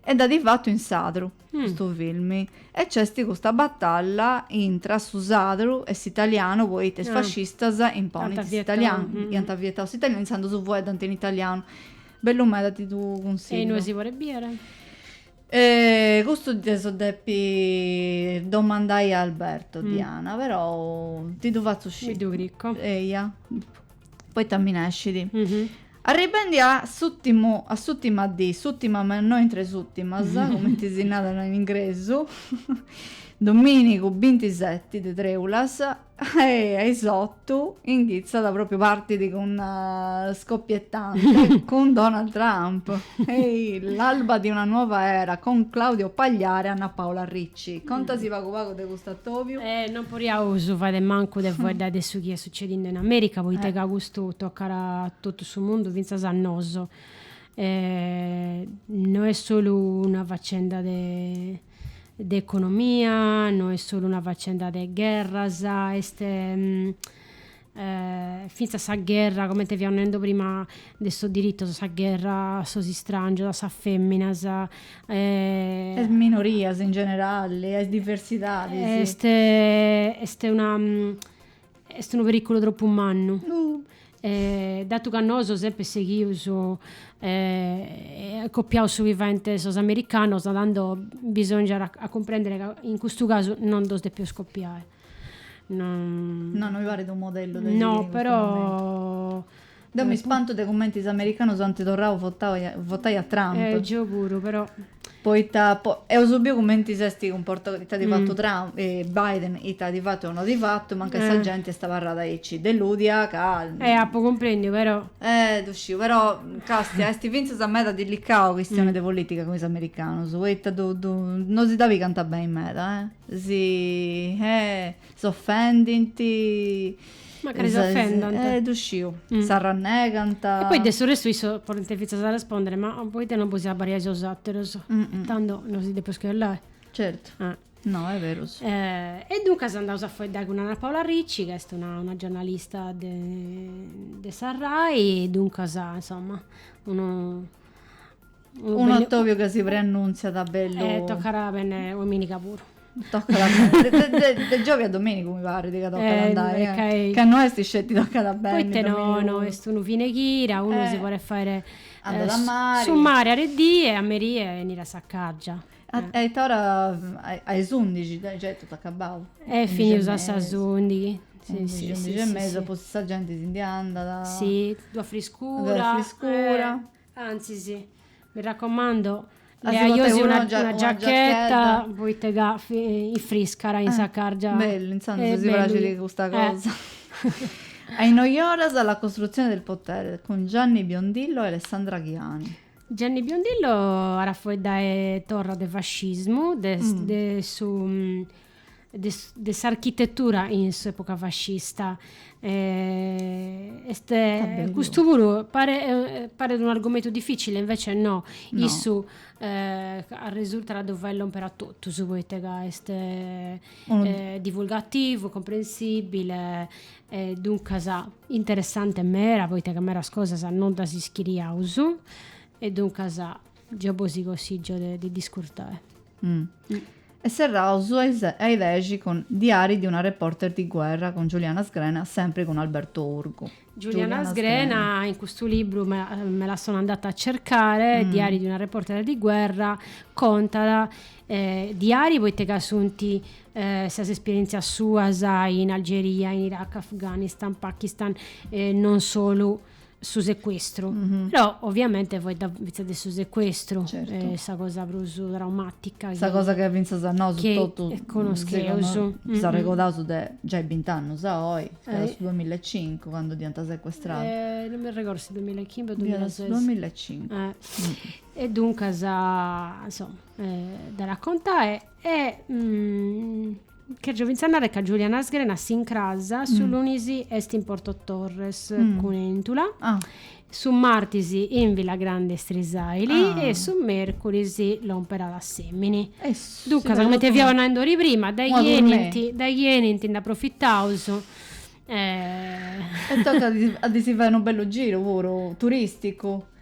e dd'at fatu in sadru custu filmi e c'esti custa batalla intra su sadru e s'italianu poita is fascistas imponint s'italianu iant vietau s'italianu intzandus su fueddant in italianu bellu meda ti ddu cunsigliu e inui si podit biere? custu ddeso depi domandai a Alberto Diana però ti ddu fatzu sciri mi ddu cricu eia poita mi nescit. Arribendi a s'ùtimu, a s'ùtima dì, s'ùtima ma no intre is ùtimas, cumenti si narat in ingresu, domìnigu bintiseti de trèulas, e a is otu inghitzat pròpriu, partit cun scoppiettante, cun Donald Trump, eh, l'alba di una nuova era con Claudio Pagliara e Anna Paola Ricci. Ci contasi pagu pagu de custu atobiu? E non poriaus fai de mancu de fueddai de su chi est sucedindo in America, poita ca custu tocat a totu su mundu fintzas a nosu. No est solu una facenda de de economia, no est solu una facenda de gherras, est fintzas sa gherra, comente fiaus neende prima, de sos diritos, sa gherra a sos istràngios, a sas fèminas, a is minorias in generali, a is diversidadis. Est est una est unu perìculu tropu mannu, datu ca nosu sempri seghius e copiaus su chi faint sos americanos, tando bisòngiat a cumprèndere ca in custu casu non ddos depiaus copiai. Non... No, non mi paret unu modellu de sighiri in custu momentu. Deu mi spantu de cumenti is americanus ant torrau a votai a Trump. Eh, geu puru, però. Poita eus biu cumenti s'est cumportau, ita at fatu Trump, Biden, ita at fatu e non at fatu, mancai sa genti est abarrada aici delùdia ca. Eh, apu cumprendiu, però. Eh, ddu sciu, però, càstia, est fintzas meda dilicau chistionai de politica cun is americanus, poita ddu ddu non si dda pigant beni meda, eh. Si, eh, s'ofendint. Macari s'ofendant. Eh, ddu sciu. S'arrannegant. E poi de su restu isso podint fintzas arrespondere, ma poita non bos abbadiais sos ateros? Tando no si depeus chesciai. Certu. Ah. No, est berus. E duncas andaus a faeddai cun Anna Paola Ricci, ca est una una giornalista de de sa Rai, duncas, insomma, unu Unu atòbiu ca si preannùntziat bellu. E tocat a benniri domìniga puru. Tocat a benniri, de giovi a domìnigu mi parit ca tocat a andai, ca no est sceti tocat a benniri domìnigu. Poita no, no est unu fine chira, unu si podet fai su mari a de die e a merie 'eniri a sa càrgia. A ita ora, a is undixi gei est totu acabau? E finius a sas undixi. Undixi, undixi e mesa, poi sa genti si ndi andat. Si, ddu at friscura. Ddu at friscura Antzis, mi raccomando, leai·osi una giacchetta poite ca infriscat in sa càrgia. Bellu, intzandus mi praxit custa cosa. A is noi oras La costruzione del potere cun Gianni Biondillo e Alessandra Ghiani. Gianni Biondillo, at a faeddae torra de fascismu de su de s'architetura in s'epoca fascista. Eh, est, custu puru paret, eh, paret un argomentu difficile, invece no, no. issu eh, arresurtat a ddu faer lomper a totus, poita ca est eh, eh, divulgativu, comprensibile, eh, duncas interessante meda, poita ca medas cosas non ddas ischiriaus, e duncas Geo bosi consìgio de dd'iscurtai. E serraus a is a i dexi cun Diari di una reporter di guerra cun Giuliana Sgrena sempri cun Alberto Urgu. Giuliana Sgrena in custu libru me la sono andata a cercare, Diari di una reporter di guerra contat, diari poita ca sunt sas esperientzias suas in Algeria, in Iraq, Afganistan, Pakistan e non solu su secuestru, però ovviamente faeddat fintzas de su secuestru, est sa cosa prus traumatica, sa cosa chi fintzas a nosu totus connoscheus, s'arregordaus de giai bint'annus a oi, fiat su duamilla e cincu candu dd'iant secuestrada, non mi arregordu si duamilla e chimbe o duamilla e ses, fiat su duamilla e cincu, e duncas insoma, dd'at a contae E chèrgio fintzas a nàrrere ca Giuliana Sgrena s'incras su lunis est in Porto Torres, cun Èntula, su martis in Villagrande Istrisaili e su mercuris lomperat a Assemini. Duncas cumenti fiaus naindi ori prima dai chi enint dai chi enint nd'aprofitaus e tocat a ddi si fai unu bellu giru puru turisticu.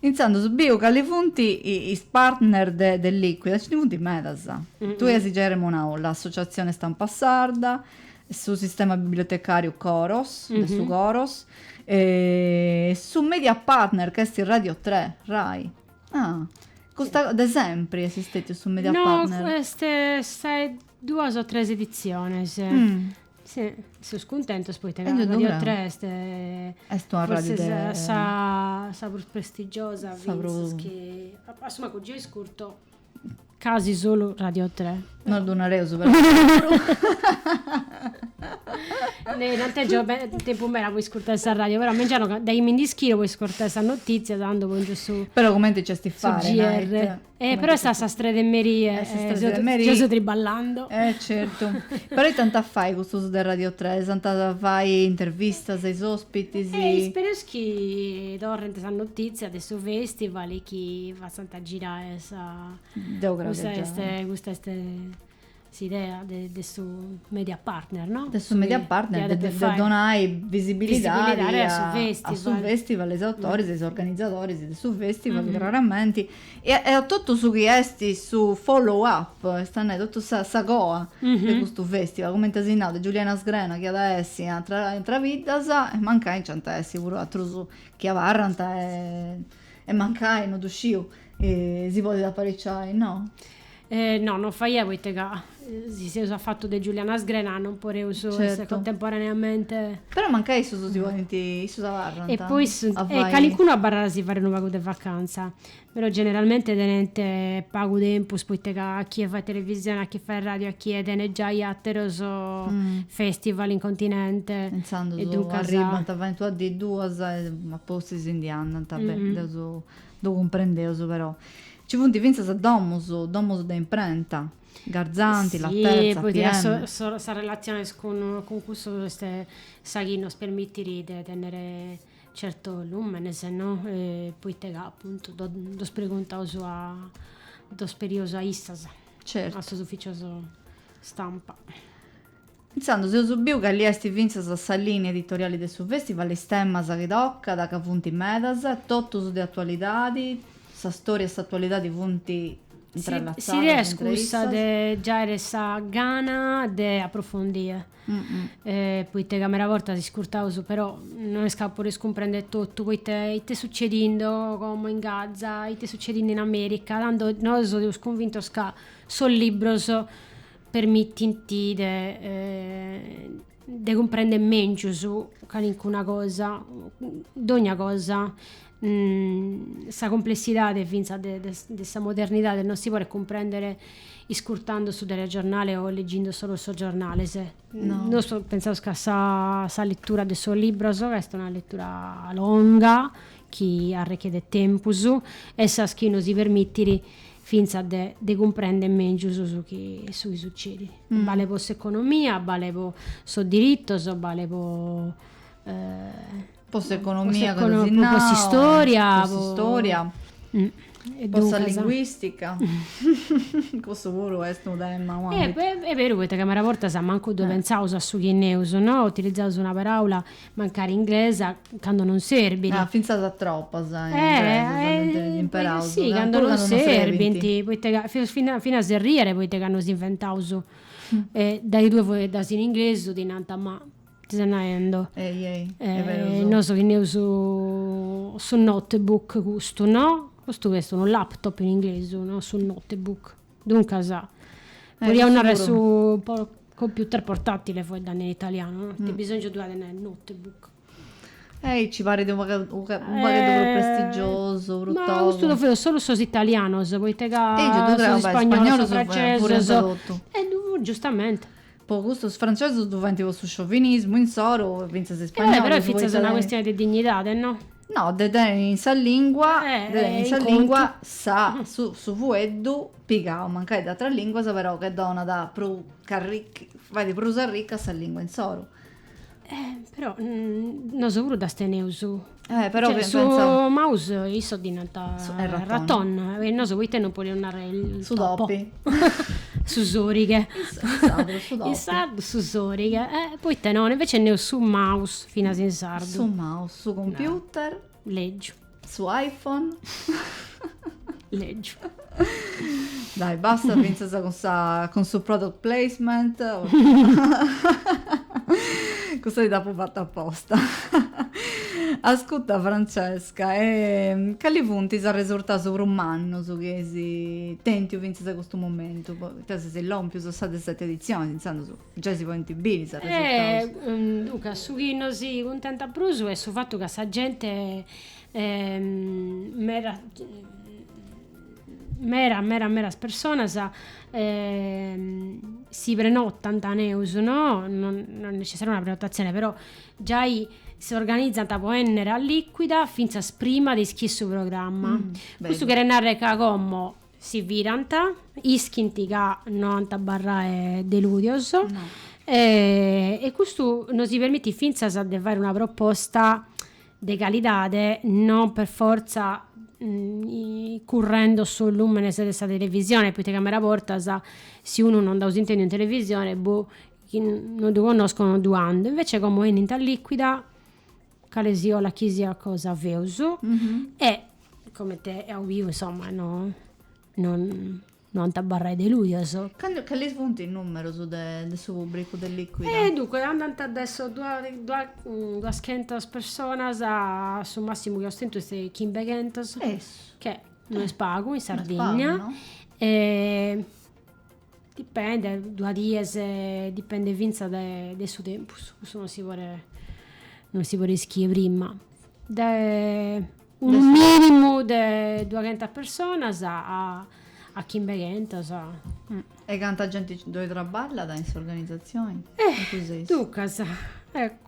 Intzandus biu ca ci funt is partner de de Liquida, nci ndi funt medas. Tui as giai arremonau l'Associatzione Stampa Sarda, su Sistema Bibliotecàriu Coros, de su Coros, e su media partner ca est Radio Tre, Rai. Ah, custa, de sempri est stètiu su media partner? No, est sa duas o tres editziones. Si, seus cuntentos poita Radio 3 est est una radiu de forsis sa sa prus prestigiosa fintzas chi a su mancu gei iscurto casi solu Radio 3. No ddu nareus però puru no tèngiu tempus meda po iscurtai sa radiu però mengianu dae mi nd'ischiro po iscurtai sas notizias tando pongiu su Però cumenti nc'est e fait su GR. Eh, però est a sas tres de merie. A sas tres de merie. Geo so triballando. Eh, certu. Però ite ant a fai custos de Radio tres? Ant a fai intervistas a is ospitis? Eh, ispereus chi torrent sas notizias de su festival chi fatzant girai sa. Deu creo chi già. Custa est, custa est. S'idea de de su media partner, no? De su media partner, de de donai visibilidadi a su festival, a su festival, is autoris e is organizadoris de su festival craramenti e e a totu su chi esti su follow up, est a nai totu sa sa coa de custu festival, cumenti as nau de Giuliana Sgrena chi at a essi in atra in atras biddas e mancai nc'ant a essi puru atrus chi abarrant e mancai, non ddu sciu, si podit apariciai, no? E no, non faiat poite ca si seus a fatu de Giuliana Sgrena non poreus certo. essere contemporaneamente. Però mancai issus si podint, issus abarrant. E poi su, a e calincunu abarrat a si fare unu pagu de vacanza, però generalmente tenent pagu tempus poite ca a chie fait televisione, a chie fait radio, a chie tenet giai ateros mm. festival in continente. Intzandus e duncas arribant, a... faint una dì duas e a postis si ndi andant, mm -hmm. deu su ddu cumprendeus però. Ci funt fintzas domus, domus de imprenta, Garzanti, Laterza, pm. Sas relatziones cun cussos est sa chi nos permitit de tènnere certos lùmenes no, poita ca apuntu ddos preguntaus ddos perius a issas, a sos ufficios stampa. Intzandus eus biu ca li est fintzas a sa lìnia editoriali de su fèstival is temas chi tocat, ca funt medas, totus de atualidadi, sa stòria e s'atualidadi funt intrallatzadas. S'idea est cussa de giare sa gana de aprofondi, poita ca meda bortas iscurtaus, però no est ca podes cumprender totu, poita ite est sucedindo como in Gaza, ite est sucedindo in America, tando nosu seus cunvintos ca sos librus permitint de de cumprender mengius ca nincuna cosa, dogna cosa, sa cumplessidade finzas de de sa modernidade non si podet cumprender iscurtando su telegiornale o legindo solu sos giornales. No. Nosu pentzaus ca sa sa letura de sos libros ca est una letura longa chi arrechedet tempus est sa chi nos permitit fintzas de de cumprender mèngius su chi su chi sucedit. Balet po s'economia, balet po sos diritos, balet po po s'economia po po s'istòria, po s'istòria, e po sa linguistica cussu puru est unu tema ua e est beru poita chi meda bortas mancu ddu pentzaus a su chi neus no, utilizaus una paraula mancari inglesa cando non serbit. Ah, fintzas paraulas ingleses eh, eh, eh, imperaus, si, cando non serbint, poita ca faeus finas finas arriere, poita ca nos inventaus e tai ddue faeddas in inglesu ti nant, ma ite ses naendo, ei ei, est berus, nosu chi neus su notebook custu no, custu est unu laptop in inglesu, no su notebook Duncas, podiaus narrer su computer portatile faeddando in italianu, no? Ite bisongiu ddu at de nai notebook? Aici parit unu pagheddu prus prestigiosu, prus togu. Ma custu ddu faeus solu sos italianos, poita ca sos ispannolos, sos francesos, e giustamente Po custu sos francesos ddu faint po su sciovinismu insoru, fintzas is spagnolis. Eh, però est fintzas una custioni de dignidadi, no? No, de teniri in sa lingua, de teniri in sa lingua sa, su, su fueddu pigau, mancai de ateras linguas, però chi donat prus, fait prus arricca sa lingua insoru. Eh, però mm, nosu puru ddas teneus. Eh, però Cioè, pe- su pensavo- maus issos ddi nant Su- eh, raton. raton, e nosu poita non podeus narrer il Su topo? topi. su sorighe. Is- in sardu su topi. In sardu su sorighe, eh, poita non, invece neus su maus finas in sardu. Su maus, su computer. Lègiu. Su iPhone. Legiu. Dai, basta fintzas cun, sa, cun su product placement. Cussa ti dd'apu fata aposta. Ascuta Francesca, e cali funt is arresurtaus prus mannus chi eis tentu fintzas a custu momentu, poita seis lompius a sa de seti editzioni, intzandus. Giai si podint biri sos resultados. Duncas, su chi nosi cuntentat prus est su fatu ca sa gente medas medas medas medas personas si prenotant neus no no est necessaria una prenotatzione però giai s'organizant po ennere a Liquida finzas prima de ischire su programma custu cheret narrer ca como Si firant, ischint ca no ant a abarrai delùdios e e custu nosi permitit fintzas de fai una proposta de calidade non per fortza currendo sos lùmenes de sa televisione, poita ca meda bortas si unu non dd'aus intendiu in televisione, boh, chi no ddu connosco no ddu ando, invece como 'enint a Liquida calesiollat chi siat cosa feus e comente eus biu insoma no no no ant abarrai delùdios. Cantu, cales funt is numerus de de su pubbricu de Liquida? E dunque andant de sas duas chentas personas a su massimu chi aus tentu est de chimbeghentas. Essu. Che no est pagu in Sardigna. No est pagu no. Dipendet, duas dies, dipendet fintzas de su tempus, cussu non si podet, non si podet ischire prima. Dae unu minimu de duaghentas personas a chimbeghentas. E canta genti ddoi traballat in s'organizatzioni? Duncas,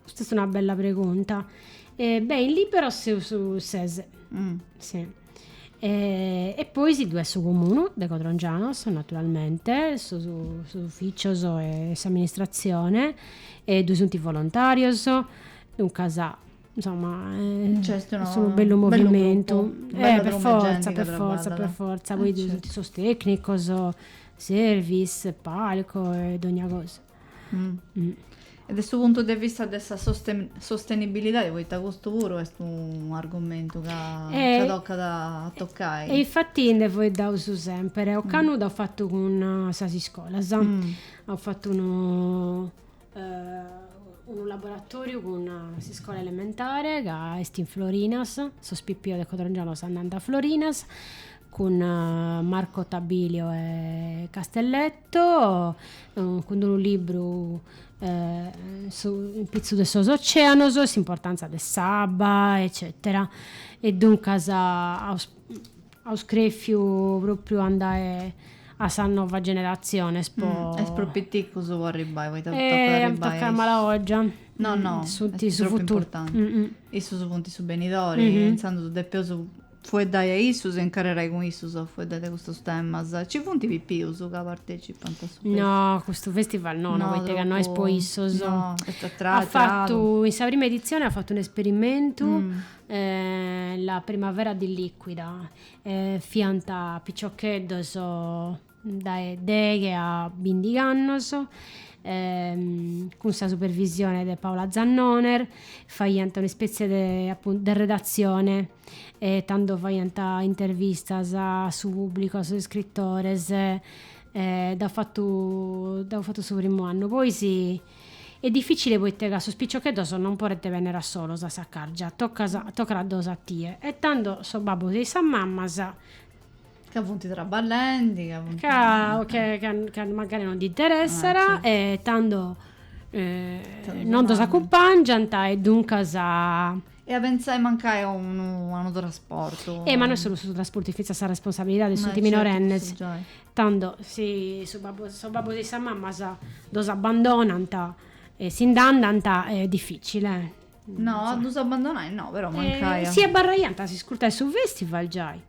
custa est una bella pregunta. Beh, in Lìberos seus ses. E, e poi sì, ddu est su Comunu de Codrongianos, naturalmente, sos sos uffitzios e s'amministratzione e ddu sunt is volontarios, duncas, insomma, est unu bellu movimentu, e per fortza, per fortza, per fortza, poi ddu sunt sos tecnicos, service, palco e dogna cosa E de su puntu de vista de sa sostenibilidadi, poita custu puru est un'argumentu ca tocat a tocai. E infati nde foeddaus sèmpere. Ocannu dd'aus fatu cun sas iscolas. Aus fatu unu unu laboratoriu cun s'iscola elementare ca est in Florinas, sos pipios de Codrongianos andant a Florinas, cun Marco Tabilio 'e Castelletto, cun d-unu libru a pitzu de sos oceanos, s'importantza de s'abba eccetera e duncas aus aus crefiu propriu andai a sas novas generatziones po is prus piticcus po arribai poita tocat arribai a is Tocat arribai a malaogia No no Est propriu importanti Issus funti su benidori e intzandus depeus Fueddai a issus e incarrerai cun issus a fueddai de custus temas. Ci funt pipius ca partecipant a su festival? No, a custu festival no, no, poita ca no est po issus. No, est atragu. Fatu, in sa prima editzioni at fatu unu esperimentu, la primavera di liquida, fiant piciocheddos dae deghe a bindig'annos, cun sa supervisione de Paola Zannoner, faiant un'ispètzie de appuntu de redatzione, tando faiant intervistas a su pùblicu, a sos iscritores, dd'aus fatu dd'aus fatu su primu annu. Poi si, est dificile poita ca sos piciocheddos non podent bènnere a solos a Saccargia, tocat tocat a ddos atire e tando sos babbos e sas mamas Ca funt traballendi, ca funt... Ca, o che, ca, ca mancari non ddi interessat, ah, e tando non ddos acumpangiant e duncas... E a pentzai mancai a unu, a unu trasportu. Eh, ma no est solu su trasportu, fintzas sa responsabilidadi e sunt minorennis. Tando, si su babbu, sos babbus e sas mamas ddos abbandonant e si nd'andant, est dificili, eh. No, a ddus abbandonai no, però mancai a. Si abarraiant a s'iscurtare su festival giai.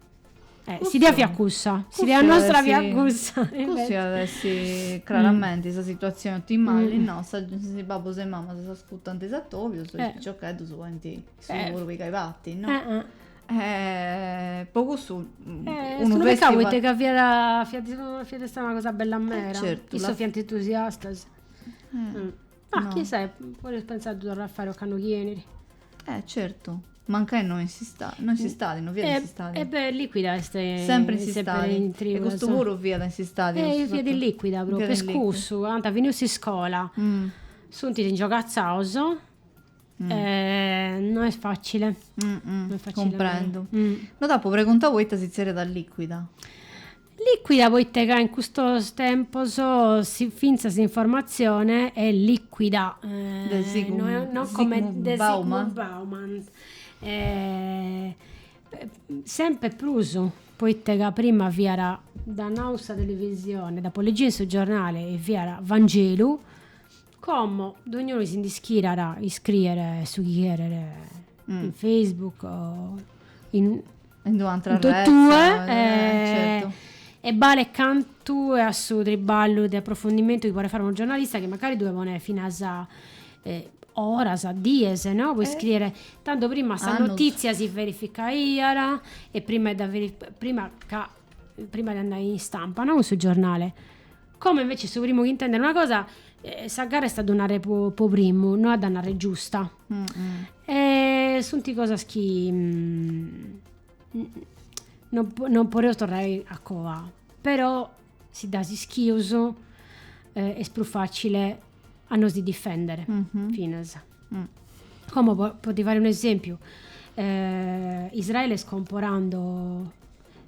Eh, Cussu- s'idea fiat cussa, cussu s'idea iat nostra essi- fiat cussa. e Cussu invece- iat essi craramenti sa situazioni otimali Mm. no, si is babbus e is mamas s'ascutant is atobius, is Eh. piciocheddus podint issus Eh. puru pigai parti, no? Eh, eh. E po cussu Eh, unu su festi pecau poita ca fiat fiat fiat istada una cosa bella mera, certu, issos la- fiant entusiastas. Mm. Ah, no. chissai, podeis pensai de ddu torrai a fai ocannu chi benit. Eh, certu. Mancai no in s'istadi, no in s'istadi, no fiat in eh, s'istadi. E eh beh, liquida est eh, sempre in s'istadi. Sempre e custu puru fiat in s'istadi. E eh, fiat in liquida proprio, est cussu, ant finiu s'iscola. Mm. Sunt ingiogatzaus. Mm. Eh, non est facile. Mm -mm. Non est facile. Cumprendu. Mm. No t'apu preguntau poita si zerriat liquida. Lìcuida poite ca in custos tempos fintzas s'informatzione est lìcuida, no, comente de Zygmunt Bauman, semper prus poite ca prima fiat, dd'at nau sa televisione, dd'apo legiu in su giornale, fiat Vangelu Como dognunu si nd'ischidat, iscriet su chi cheret in Facebook o in in du'antra totue e balet cantu a su triballu de approfondimentu chi podet fare unu giornalista chi mancari due ponet finas oras dies no po iscriere tando prima sa notizia si verificaiat e prima e dda prima ca prima de andai in istampa no cun su giornale Como invece su primu chi intendet una cosa, eh, sa gara est a ddu narrere po, po primu, no a dda narrere giusta. Mm-mm. E sunt cosas chi mm, non, non podeus torrare a coa, però si ddas ischius eh, est prus facile a nos ndi difendere, mm-hmm. finas. Mm. Como po, po ti fare un esempiu, eh, Israele est comporando,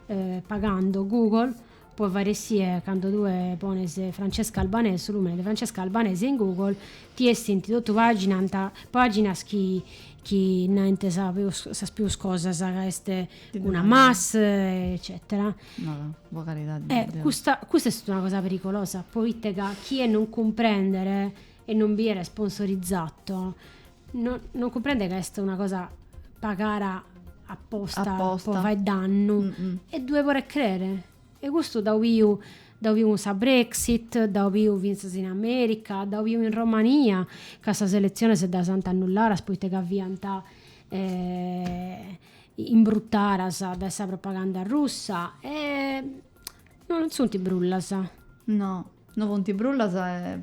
eh, pagando Google Po fare sie cando tue pones Francesca Albanese, su lùmene de Francesca Albanese in Google, ti essint totu paginas, paginas chi chi naint sa peus sas peus cosas ca est cun Hamas eccetera. No no, po caridadi de Deu. Custa custa est una cosa pericolosa, poite ca chie non cumprendet e non biet sponsorizato No non cumprendet ca est una cosa pagara apposta, apposta. po fai dannu mm-hmm. e ddue podet crere e custu dd'aus biu dd'aus biu cun sa Brexit dd'aus biu finzas in America dd'aus biu in Romania ca sas eletziones ddas ant annulladas poite ca fiant eh, imbruttadas dae sa propaganda russa e non sunt brullas no No funt brullas e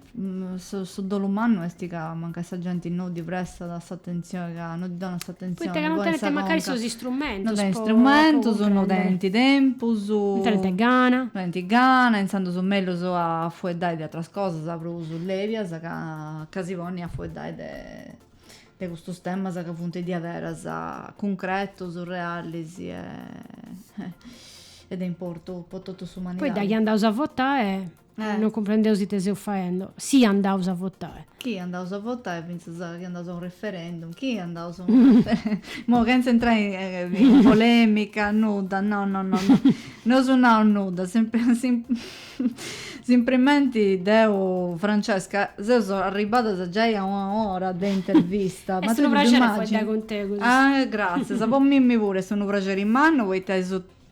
su dolu mannu est ca mancai sa genti no ddi prestat s'atentzioni ca no ddi donat s'atentzioni poita ca no tenint mancai sos istrumentus po no tenint istrumentus no tenint tempus no tenint gana no tenint gana intzandus mellus a fueddai de ateras cosas prus lèbias ca si ponni a fueddai de de custus temas ca funt diaderas cuncretus, realis e e de importu po totu s'umanidadi. Poi daghi andaus a votai non cumprendeus ite seus faendo, si andaus a votai. Chi andaus a votai, fintzas chi andaus a unu referendum, chi andaus a unu referendum, imoi chentza intrai in polemica, nudda, no no no, no eus nau nudda, Simprimenti deu, Francesca, seus arribadas giai a una ora de intervista. Est unu praxeri a fueddai cun tegus. Ah, gràtzias. Po mimmi puru est unu praxeri mannu poita eus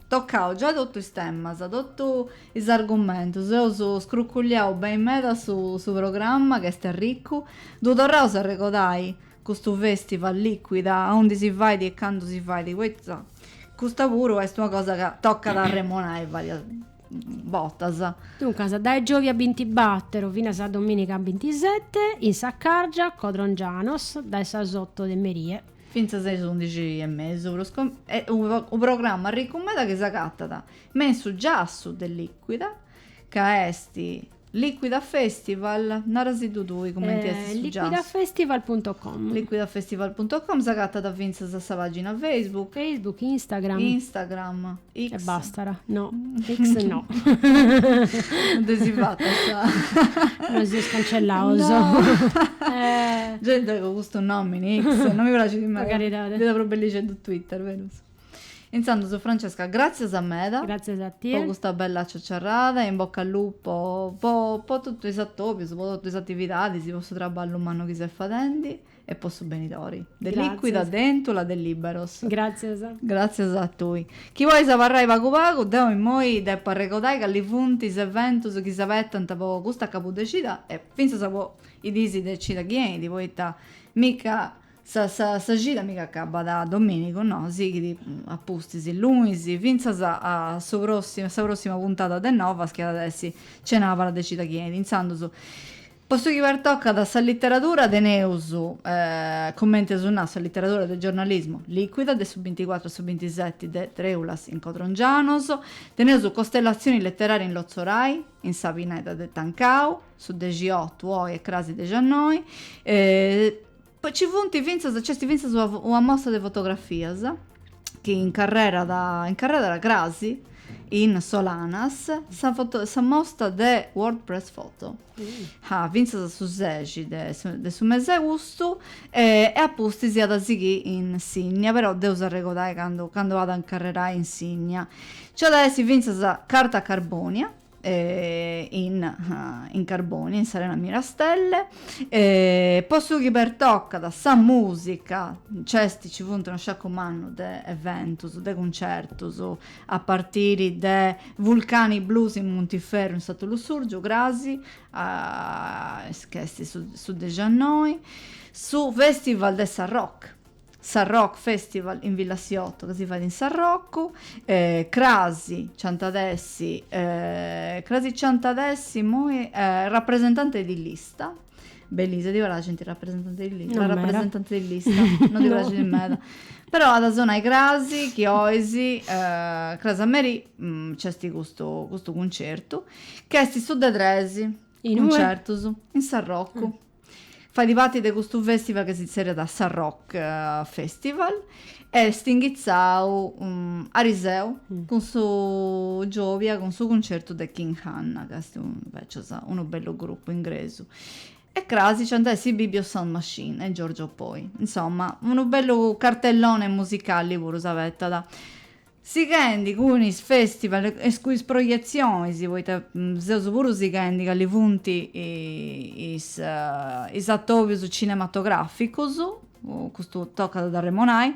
tocau giai totus is temas, totu is argumentus, eus scruculliau beni meda su su programma ca est arricu, ddu torraus a arregodai custu festival Liquida, aundi si fait e candu si fait, poita custa puru est una cosa ca tocat a arremonai varias botas. Duncas, dae giòvia bintibàteru finas a domìniga bintisete, in Saccargia, Codrongianos, dae sas oto de merie. Fintzas a is undixi e mesu, prus unu programma arricu meda chi s'agatat me in su giassu de Liquida, ca est Liquida Festival, nara·siddu tui cumenti est su giasu. Liquidafestival punto com. Liquidafestival punto com, s'agatat fintzas a sa pàgina Facebook. Facebook, Instagram. Instagram, X. E bastat, no, X no. No dde si fatat sa. Nos seus cancellaus. Gei deu custu nòmini X no mi praxit meda. Po caridadi. Fiat prus bellixeddu Twitter, però. Intzandus Francesca gràtzias meda Gràtzias a po tie. custa bella ciaciarrada e in bocca al lupo po po totu is atòbius, po totu is atividadis, po su traballu mannu chi ses fadendi e po su benidori de Lìquida, Gràtzias. de Èntula, de Lìberos. Gràtzias. Gràtzias a tui. Chi pois abarrai pagu pagu, deu immoi depu arregodai cali funt is eventus chi s'abetant po custa cabudecida e fintzas po is dis de cida chi 'enit, poita mi ch'a Sa sa cida mi ch'acabat dominigu, no, sighit a pustis lunis, fintzas a su a sa prossima puntada de Novas chi at essi cenàbara de cida chi 'enit Intzandus, po su chi pertocat a sa literadura teneus, cumenti eus nau, sa literadura de giornalismu Liquida de su binticuàturu a su bintiseti de Trèulas in Codrongianos, teneus Costellatzioni leteraria in Lotzorai, in sa pineda de Tancau, su dexiotu oi e crasi dexannoi, Poi ci funt fintzas, nc'est fintzas una, una mostra de fotografias chi incarrerat, incarrerat crasi in Solanas, sa foto, sa mostra de World Press Photo. Ah, fintzas a su sexi de su, de su mes'e austu e a pustis iat a sighiri in Sinnia, però deus arregodai candu, candu at a incarrerai in Sinnia. Nc'at a essi fintzas Carta Carbonia, in in Carbonia, in s'Arena Mirastelle, e po su chi pertocat sa musica, nc'est, nci funt unu sciaccu mannu de eventus, de cuncertus, a partiri de Vulcani Blues in Muntiferru in Santu Lussurgiu, crasi, a, est ca est su su dexannoi, su festival de Sa Rock, Sa Rock Festival in Villa Siotto ca si fait in Sarrocu, eh, crasi nci ant a essi, eh, crasi nci ant a essi immoi eh, rappresentante di lista, Belisa, ti praxit sentiri rappresentante di lista? No, la rappresentante di lista, non ti no. praxit meda. Però ant a sonai crasi, chi 'ois, eh, crasi a merì, mh, mm, nc'esti custu, custu concertu, ch'esti su de tresi concertus, in Sarrocu. Mm. Fait parti de custu fèstival chi si tzerriat Sa Rock Festival e est inghitzau ariseu cun su giòbia cun su cuncertu de King Hannah ca est invècias unu bellu grupu ingresu e cras nc'ant a essi Ibibio Sound Machine e Giorgio Poi. Insoma, unu bellu cartellone musicali puru si abetat. Sighendi cun is festival e cun is projetzionis, poita seus puru sighendi cali funt is atòbius cinematograficus, custu tocat a dd'arremonai,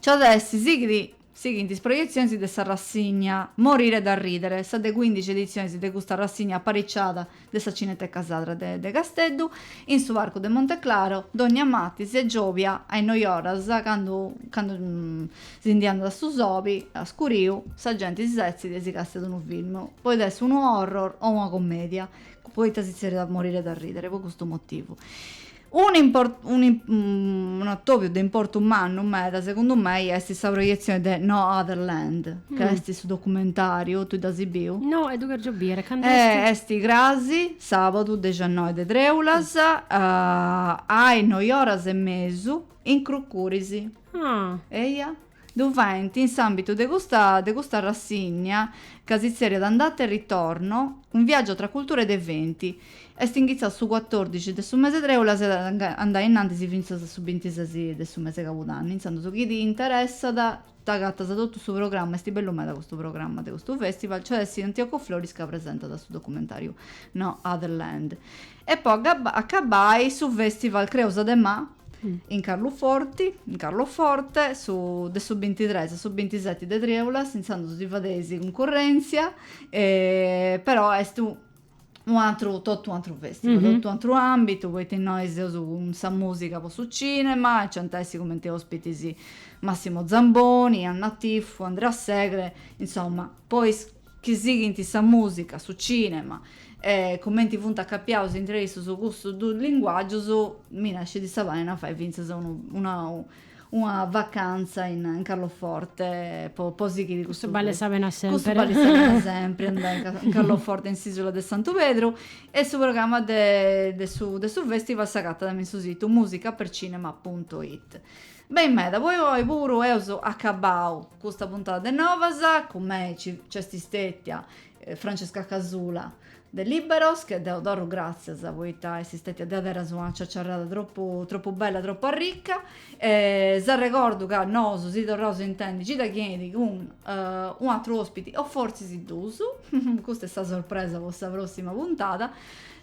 nc'at a essi, sighit, sighint is projetzionis de s'arrassigna Morire da ridere, sa de cuindixi editzioni de custa arrassigna apariciada de sa Cineteca Sarda de de Casteddu, in su Parcu de Monteclaro, dònnia matis e giòbia a is noi oras, candu candu si ndi andat a su soli, a scuriu, sa genti si setzit e si castat unu film, poita est unu horror o una commedia, poita si tzerriat Morire da ridere, po custu motivu. Un'atòbiu de importu mannu meda segundu mei est sa proietzioni de No Other Land, ca est su documentàriu, tui dd'asi biu? No, e ddu chèrgio biri, cand'est? Eh, est crasi, sàbadu, dexannoi de trèulas, a is noi oras e mesu, in Crucuris. Ah! Eia? ddu faint in s'àmbitu de custa de custa rassigna ca si tzeriat Andata e ritorno, un viaggio tra culture de venti. Est inghitzau su cuatòrdici de su mese trèulas e at a andai innantis fintzas a su bintises de su mese cabudanni, intzandus chi ti interessat t'agatas totu su programma, est bellu meda custu programma de custu festival, nc'at a essi Antioco Floris ca presentat su documentàriu No Other Land. E po acabbai su festival Creuza de Mà in Carluforti, in Carloforte, su de su bintitres a su bintiseti de Trèulas, intzandus si fadeis cuncurrentzia, però est u u atru totu u atru festival, totu u atru ambitu, poita innoi seus cun sa musica po su cinema, nc'ant a essi cumenti ospitis Massimo Zamboni, Anna Tifu, Andrea Segre, insomma, po is chi sighint sa mùsica, su cìnema e cumenti funt acapiaus intre issus custus duus linguàgius, balit sa pena a fai fintzas una una vacantza in Carloforte po po sighiri custu Custu balit sa pena sempiri Custu balit sa pena sempiri andai in Carloforte in s'Ìsula de Santu Pedru e su programma de de su de su festival s'agatat in su situ musica per cinema punto it. Beni meda, po oi puru eus acabau custa puntada de Novas, cun mei nc'est stetia Francesca Casula de Liberos, che deu torru gràtzias poita est stetia diaderus una ciaciarrada tropu tropu bella, tropu arrica e s'arregordu ca nosu si torraus a intendi cida chi 'enit cun u' atru ospiti o fortzis duus, custa est sa sorpresa po sa prossima puntada.